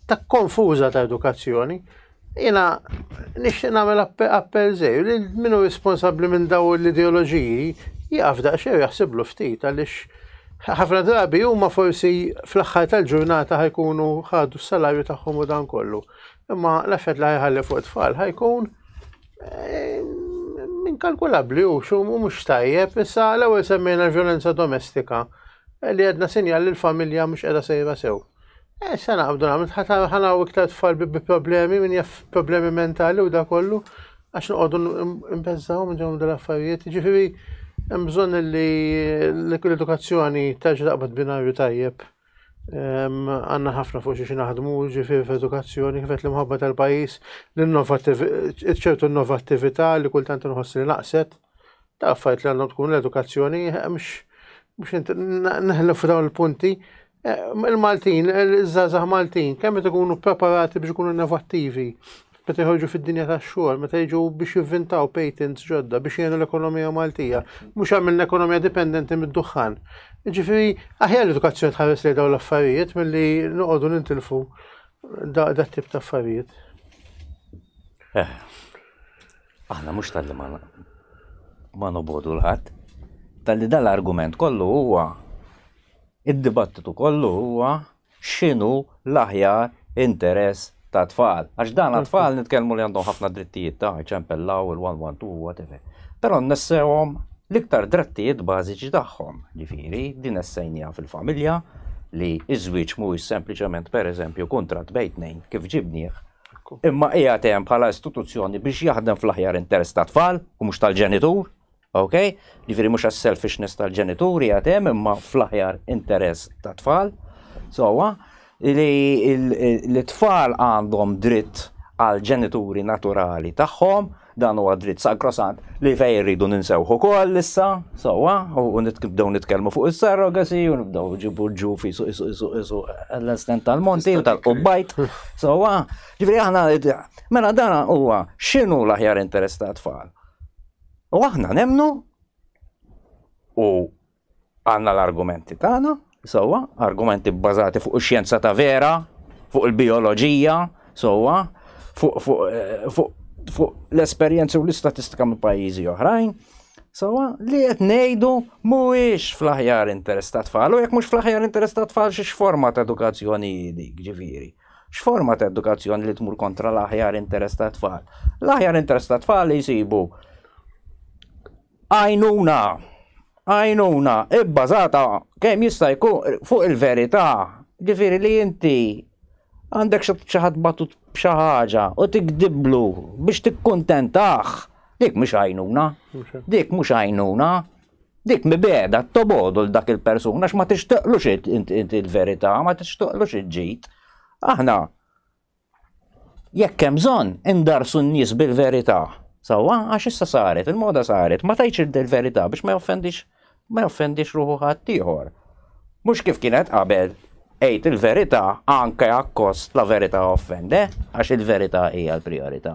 ta' konfuża ta' edukazzjoni Jiena nixtieq nagħmel appell żgħir li min hu responsabbli minn daw l-ideoloġiji jaqaf daqsxejn jaħsiblu ftit għaliex ħafna drabi huma forsi fl-aħħar tal-ġurnata ħajkunu ħadu s-salarju tagħhom u dan kollu. Imma l-effett li ħajħalli fuq tfal ħajkun eh, minn kalkulabbli u xum u mhux tajjeb issa l-ewwel semmejna l-vjolenza domestika eh, li għedna sinjal li l-familja mhux qiegħda sejra sew. Eh, se naqbdu nagħmel ħanaw iktar tfal bi problemi, min jaf problemi mentali u da kollu, għax noqogħdu nbeżżaw minn dawn dal-affarijiet. Ġifieri hemm bżonn li l-edukazzjoni terġa' taqbad binarju tajjeb. Għandna ħafna fuq xi naħdmu ġifieri f'edukazzjoni kif qed l-imħabba tal-pajjiż, ċertu innovattività li kultant inħoss li naqset. Ta' affarijiet li għandhom tkun l-edukazzjoni mhux neħlu f'dawn il-punti Eh, Il-Maltin, il-żazah Maltin, kemm qed ikunu preparati biex ikunu innovattivi, meta jħorġu fid-dinja tax-xogħol, meta jiġu biex jivvintaw patents ġodda biex jgħinu l-ekonomija Maltija, mhux għamilna ekonomija dipendenti mid-duħħan. Ġifieri, aħjar l-edukazzjoni tħares li dawn l-affarijiet milli noqogħdu nintilfu da tip ta' affarijiet. Eh, aħna mhux tal-li ma nobodu l-ħadd, tal-li dal-argument kollu huwa Id-dibattitu kollu huwa x'inhu l-aħjar interess tat-tfal. Għax dan għat-tfal nitkellmu li għandhom ħafna drittijiet ta' iċempellaw, il-one-one-two, whatever. Però nnessewhom l-iktar drattijiet bażiċi tagħhom. Ġifieri, din essejniha fil-familja li ż-żwieġ mhuwiex sempliċement, per eżempju, kuntratt bejn tnejn kif ġibnieh, imma qiegħed hemm bħala istituzzjoni biex jaħdem fl-aħjar interess tat-tfal u mhux tal-ġenitur. Ok? Ġifieri mhux għas-selfishness tal-ġenituri għad hemm imma fl-aħjar interess tat-tfal. Sewwa li t-tfal għandhom dritt għal ġenituri naturali tagħhom, dan huwa dritt sagrosant li fejn irridu ninsewħu wkoll issa, sewwa, u nibdew nitkellmu fuq is-surrogacy u nibdew ġibu ġu fi suq suq suq suq l-estent tal-monti u tal-qubbajt, sewwa. Ġifieri aħna mela dan huwa x'inhu l-aħjar interess tat-tfal. U aħna nemnu u għandna l-argumenti tagħna, sewwa, argumenti bbażati fuq ix-xjenza ta' vera, fuq il-bioloġija, sewwa, fuq fu, eh, fu, fu l-esperjenzi u l-istatistika minn pajjiżi oħrajn, sewwa, li qed ngħidu mhuwiex fl-aħjar interess ta' tfal, u jekk mhux fl-aħjar interess ta' tfal xi forma ta' edukazzjoni dik, ġifieri. X'forma ta' edukazzjoni li tmur kontra l-aħjar interess ta' tfal? L-aħjar interess ta' tfal li jsibu għajnuna għajnuna ibbażata kemm jista' jkun fuq il-verità. Ġifieri li inti għandek xi ħadd batut b'xi ħaġa u tikdiblu biex tikkuntentah, dik mhux għajnuna. Dik mhux għajnuna. Dik mibegħda tobogħdu l dak il-persuna għax ma tixtaqlux inti il-verità, ma tixtaqlux il-ġid. Aħna jekk hemm bżonn indarsu n-nies bil-verità. Sawa, għax issa saret, il-moda saret, ma tajċ il-verità biex ma joffendix ma joffendix ruħu ħadd ieħor. Mhux kif kienet qabel ejt il-verità anke akkost la verità offende, għax il-verità hija l-prijorità.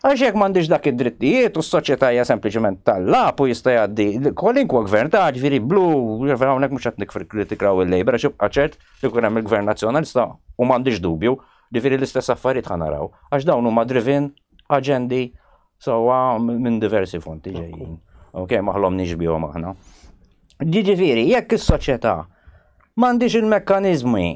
Għax jekk m'għandhiex dak id-drittijiet u s-soċjetà hija sempliċement tal-lagħab u jista' jgħaddi kwalinkwa gvern ta' ġifieri blu, hawnhekk mhux qed nikkritikaw il-Labour għax ibqa' ċert li jkun hemm il-Gvern Nazzjonalista u m'għandix dubju, ġifieri l-istess affarijiet ħa naraw għax dawn huma driven aġendi sewwa minn diversi fonti ġejjin. Ok, ma ħlomniex bihom aħna. Jiġifieri jekk is-soċjetà m'għandhiex il-mekkaniżmi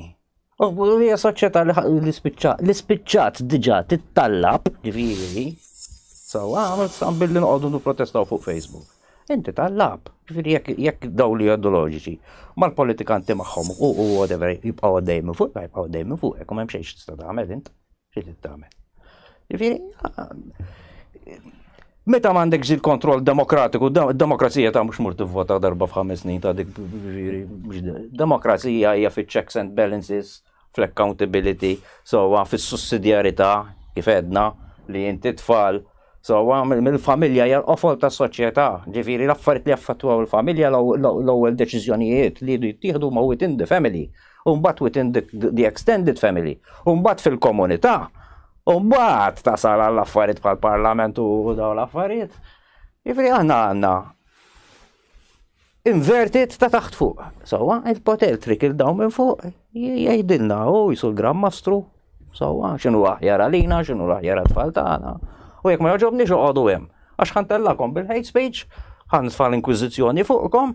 U hija soċjetà li spiċċat, li spiċċat diġà tittallab, ġifieri, sewwa għamel sam billi noqogħdu nipprotestaw fuq Facebook. Inti tallab, ġifieri jekk daw li ideoloġiċi mal-politikanti magħhom u whatever jibqgħu għaddej minn fuq, jibqgħu għaddej minn fuq, hekk m'hemm xejn tista' tagħmel int. Xi trid tagħmel? Jiġifieri meta m'għandekx il-kontroll demokratiku, demokrazija ta' mhux mur tivvota darba f'ħames snin ta' dik demokrazija hija fiċ-checks and balances, fl-accountability, sewwa fis-sussidjarità kif edna li inti tfal sewwa mill-familja hija l-qofol tas-soċjetà, ġifieri l-affarijiet li jaffettwaw il-familja l-ewwel deċiżjonijiet li jittieħdu ma' within the family, u mbagħad within the, the extended family, u mbagħad fil-komunità, u mbagħad tasal għall affarijiet bħal parlament u dawn l-affarijiet. Jifri aħna għandna inverted ta' taħt fuq. Sawa, il-poter trik il-daw minn fuq, jgħidilna u jisu l-gram mastru. Sawa, xinu aħjar għalina, xinu aħjar għatfall tagħna. U jekk ma joġobni xoqgħodu hemm. Għax ħantellakom bil-hate speech, ħanfall inkwizizjoni fuqkom,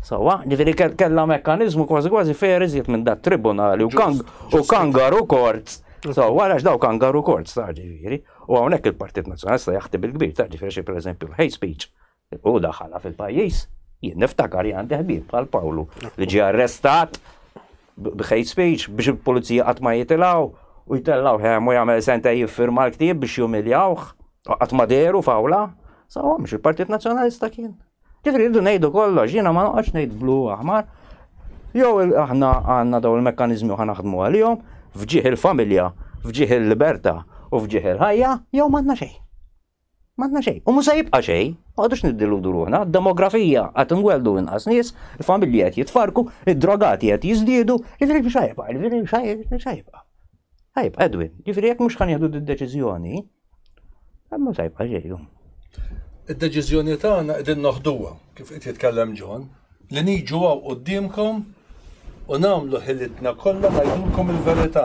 Sawa, ġifiri kella mekkanizmu kważi kważi fair iżjed minn dat tribunali u kangaru kort. Sawa, għax daw kangaru kort, ta' ġifiri. U għawnek il-Partit Nazjonalista jaħti bil-kbir, ta' ġifiri xie per eżempju l-hate speech. U daħħala fil-pajis, jien niftakar li għandi ħbib bħal Pawlu li ġie arrestat b-hate speech biex il-pulizija qatt ma jitilaw u jitellaw ħem u jagħmel senta jiffirma l-ktieb biex jumiljawh qatt ma deru fawla. Sawa, mhux il-Partit Nazjonalista kien. Ġifri rridu ngħidu kollox, jiena ma noqgħodx ngħid blu aħmar. Jew aħna għandna dawn il-mekkaniżmi u naħdmu għalihom fġieħ il-familja, fġieħ il-libertà u fġieħ il-ħajja, jew m'għandna xejn. M'għandna xejn. U mhux se jibqa' xejn, ma għadux niddiludu ruħna, demografija qed inweldu inqas nies, il-familji qed jitfarku, id-drogati qed jiżdiedu, jiġri xajba, jiġri xajba. Ħajb, Edwin, jiġri jekk mhux ħan jieħdu d-deċiżjoni, Għamma tajba ġejhom. Id-deċiżjoni tagħna qegħdin noħduha kif qed jitkellem John li niġu għaw quddiemkom u nagħmlu ħilitna kollha ngħidulkom il-verità.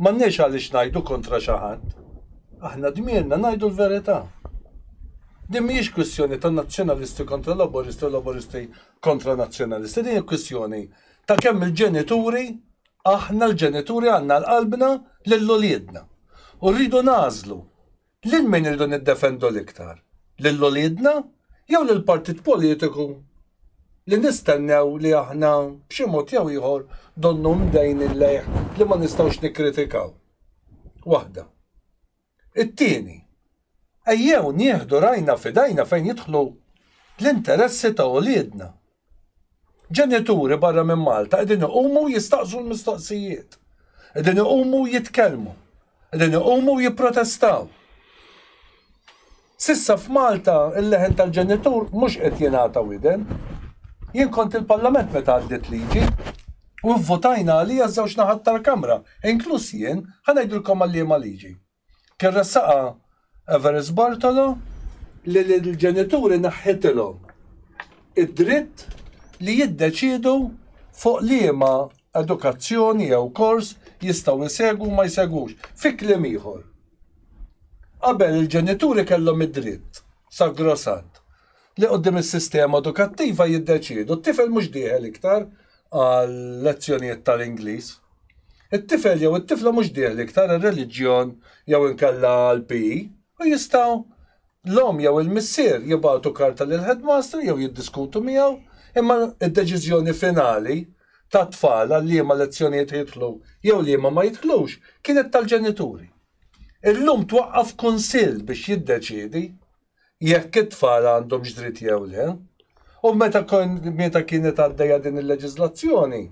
M'għandniex għaliex ngħidu kontra xi ħadd. Aħna dmirna ngħidu l-verità. Din mhijiex kwistjoni ta' nazzjonalisti kontra laboristi u laboristi kontra nazzjonalisti, din hija kwistjoni ta' kemm il-ġenituri Aħna l-ġenituri għandna l-qalbna lil uliedna u rridu nagħżlu lil min irridu niddefendu l-iktar, lil uliedna jew lill-partit politiku li nistennew li aħna b'xi mod jew ieħor donnu mdejnin lejh li ma nistgħux nikkritikaw. Waħda. It-tieni, ejjew nieħdu rajna f'idajna fejn jidħlu l-interessi ta' uliedna. Ġenituri barra minn Malta qegħdin iqumu u jistaqsu l-mistoqsijiet, qegħdin iqumu u jitkellmu, qegħdin iqumu u jipprotestaw. S'issa f'Malta il-leħen tal-ġenitur mhux qed jingħata widen. Jien kont il-Parlament meta għaddiet liġi u vvutajna għaliha ż-żewġ naħat tal-Kamra, inkluż jien, ħa ngħidilkom għal liema liġi. Kien ressaqha Everest Bortolo, li lill-ġenituri neħħitilhom id-dritt li jiddeċiedu fuq liema edukazzjoni jew kors jistgħu jsegwu u ma jsegwux. Fi kliem ieħor. Qabel il-ġenituri kellhom id-dritt, sagrosant, li quddiem is-sistema edukattiva jiddeċiedu, t-tifel mhux dieħel iktar għal lezzjonijiet tal-Ingliż. It-tifel jew it-tifla mhux dieħli iktar għar-reliġjon jew inkella għall-PE u jistgħu L-omm jew il-missier jibagħtu karta lill-headmaster jew jiddiskutu miegħu, imma d-deċiżjoni finali tat-tfal għal liema lezzjonijiet jidħlu jew liema ma jidħlux kienet tal-ġenituri. Illum twaqqaf kunsill biex jiddeċiedi jekk it-tfal għandhomx dritt jew le. U meta meta kienet għaddejja din il-leġiżlazzjoni,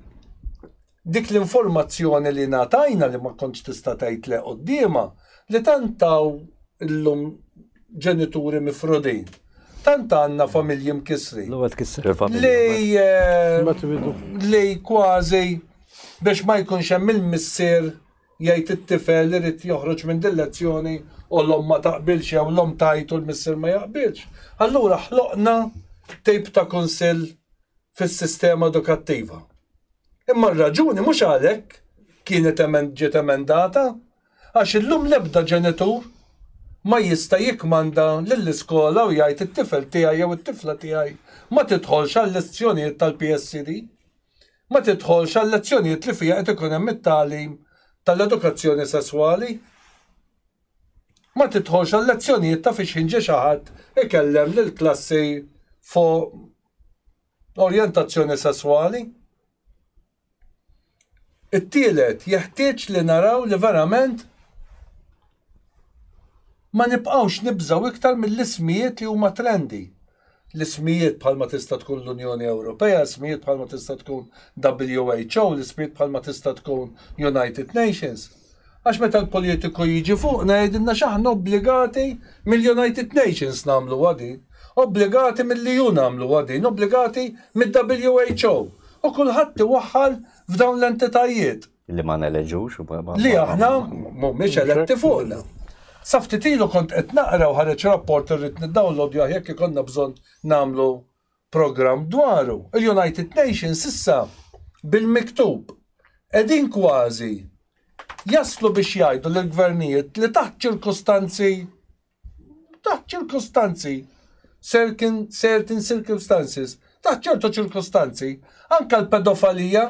dik l-informazzjoni li ngħatajna li ma kontx tista' tgħid le quddiemha, li tant taw illum ġenituri mifrudin. Tant għandna familji mkissrin. L-ewwel tkisser il-familja. Li li kważi biex ma jkunx hemm il-missier jgħid it-tifel irid joħroġ minn din lezzjoni u l-om ma taqbilx jew l-om tajt u l-missier ma jaqbilx. Allura ħloqna tip ta' kunsill fis-sistema edukattiva. Imma r-raġuni mhux għalhekk kienet ġiet emendata għax illum l-ebda ġenitur ma jista' jikkmanda lill-iskola u jgħid it-tifel tiegħi jew it-tifla tiegħi ma tidħolx għal-lezzjonijiet tal-PSCD, ma tidħolx għal-lezzjonijiet li fiha qed ikun hemm it-tagħlim tal-edukazzjoni sesswali, ma tidħolx għal-lezzjonijiet ta' fiex ħin ġie xi ħadd ikellem lill-klassi fuq l-orjentazzjoni sesswali. It-tielet, jeħtieġ li naraw li verament ma nibqgħux nibżgħu iktar mill-ismijiet li huma trendi. L-ismijiet bħalma tista' tkun l-Unjoni Ewropea, ismijiet bħalma tista' tkun WHO, l-ismijiet bħalma tista' tkun United Nations. Għax meta l-politiku jiġi fuqna jgħidilna x'aħna obbligati mill-United Nations nagħmluha din, obbligati mill-EU nagħmluha din, obbligati mid-WHO. U kulħadd iwaħħal f'dawn l-entitajiet. Li ma neleġux u ma. Li aħna mhumiex eletti fuqna. Sa ftit ilu kont qed naqra u ħareġ rapport irrid niddownloadjah jekk ikollna bżonn nagħmlu programm dwaru, il-United Nations issa bil-miktub qegħdin kważi jaslu biex jgħidu lill-gvernijiet li taħt ċirkustanzi taħt ċirkustanzi certain, certain circumstances, taħt ċertu ċirkustanzi, anka l-pedofalija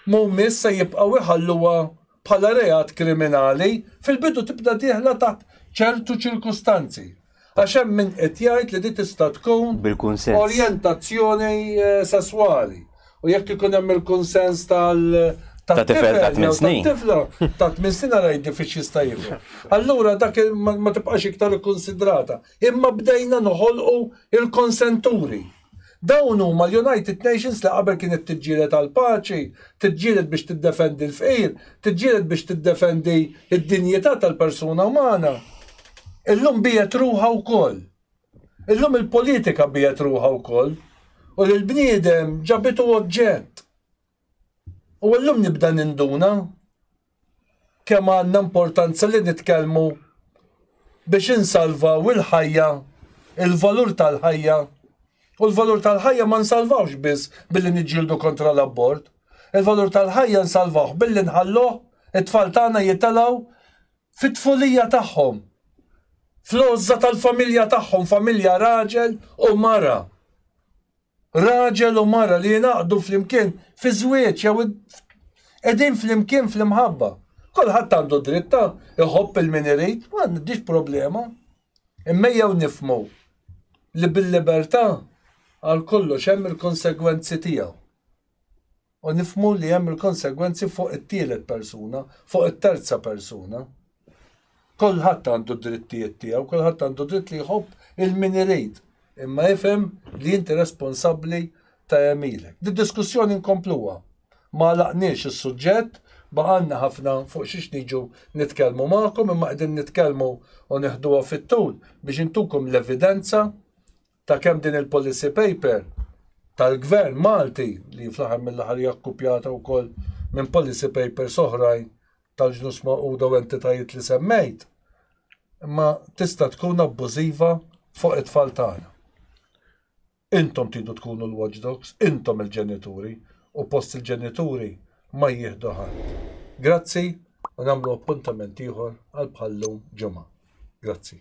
mhumiex se jibqgħu iħalluha bħala reat kriminali, fil-bidu tibda dieħla taħt ċertu ċirkustanzi. Għax hemm min qed jgħid li di tista' tkun bil-kunsens. Orjentazzjoni eh, sesswali. U jekk ikun hemm il-kunsens tal ta' tifel ta' tmien snin. Tifla ta' tmien snin għalaj diffiċ jista' jifhem. Allura dak ma tibqax iktar ikkonsidrata. Imma bdejna noħolqu il-konsenturi. Dawn huma l-United Nations li qabel kienet tiġġieled għall-paċi, tiġġieled biex tiddefendi l-fqir, tiġġieled biex tiddefendi d-dinjità tal-persuna umana. Illum biegħet ruħha wkoll. Illum il-politika biegħet ruħha wkoll u lill-bniedem ġabitu oġġett. U illum nibda ninduna kemm għandna importanza li nitkellmu biex insalvaw il-ħajja, il-valur tal-ħajja. U l-valur tal-ħajja ma nsalvawx biss billi niġġieldu kontra l-abort. Il-valur tal-ħajja nsalvawh billi nħalluh it-tfal tagħna jitalgħu fit-tfulija tagħhom. Fl-għożża tal-familja tagħhom, familja raġel u mara. Raġel u mara li jingħaqdu flimkien fi żwieġ jew qegħdin flimkien fl-imħabba. Kulħadd għandu dritt ta' iħobb il-min irid, ma għandix problema. Imma jew nifmu li bil-libertà għal kollox hemm il-konsegwenzi tiegħu. U nifhmu li hemm il-konsegwenzi fuq it-tielet persuna, fuq it-terza persuna. Kulħadd għandu d-drittijiet tiegħu, kulħadd għandu dritt li jħobb il-min irid, imma ifhem li inti responsabbli ta' għemilek. Di diskussjoni nkompluha. Ma għalaqniex is-suġġett, baqanna ħafna fuq xiex niġu nitkellmu magħkom, imma qegħdin nitkellmu u neħduha fit-tul biex intukom l-evidenza ta' kemm din il-policy paper tal-gvern Malti li fl-aħħar mill-aħħar hija kkupjata wkoll minn policy papers oħrajn tal-ġnus maquda u entitajiet li semmejt, imma tista' tkun abbużiva fuq it-tfal tagħna. Intom tidu tkunu l-watchdogs, intom il-ġenituri, u post il-ġenituri ma jieħdu ħadd. Grazzi u nagħmlu appuntament ieħor għal bħallum ġimgħa. Grazzi.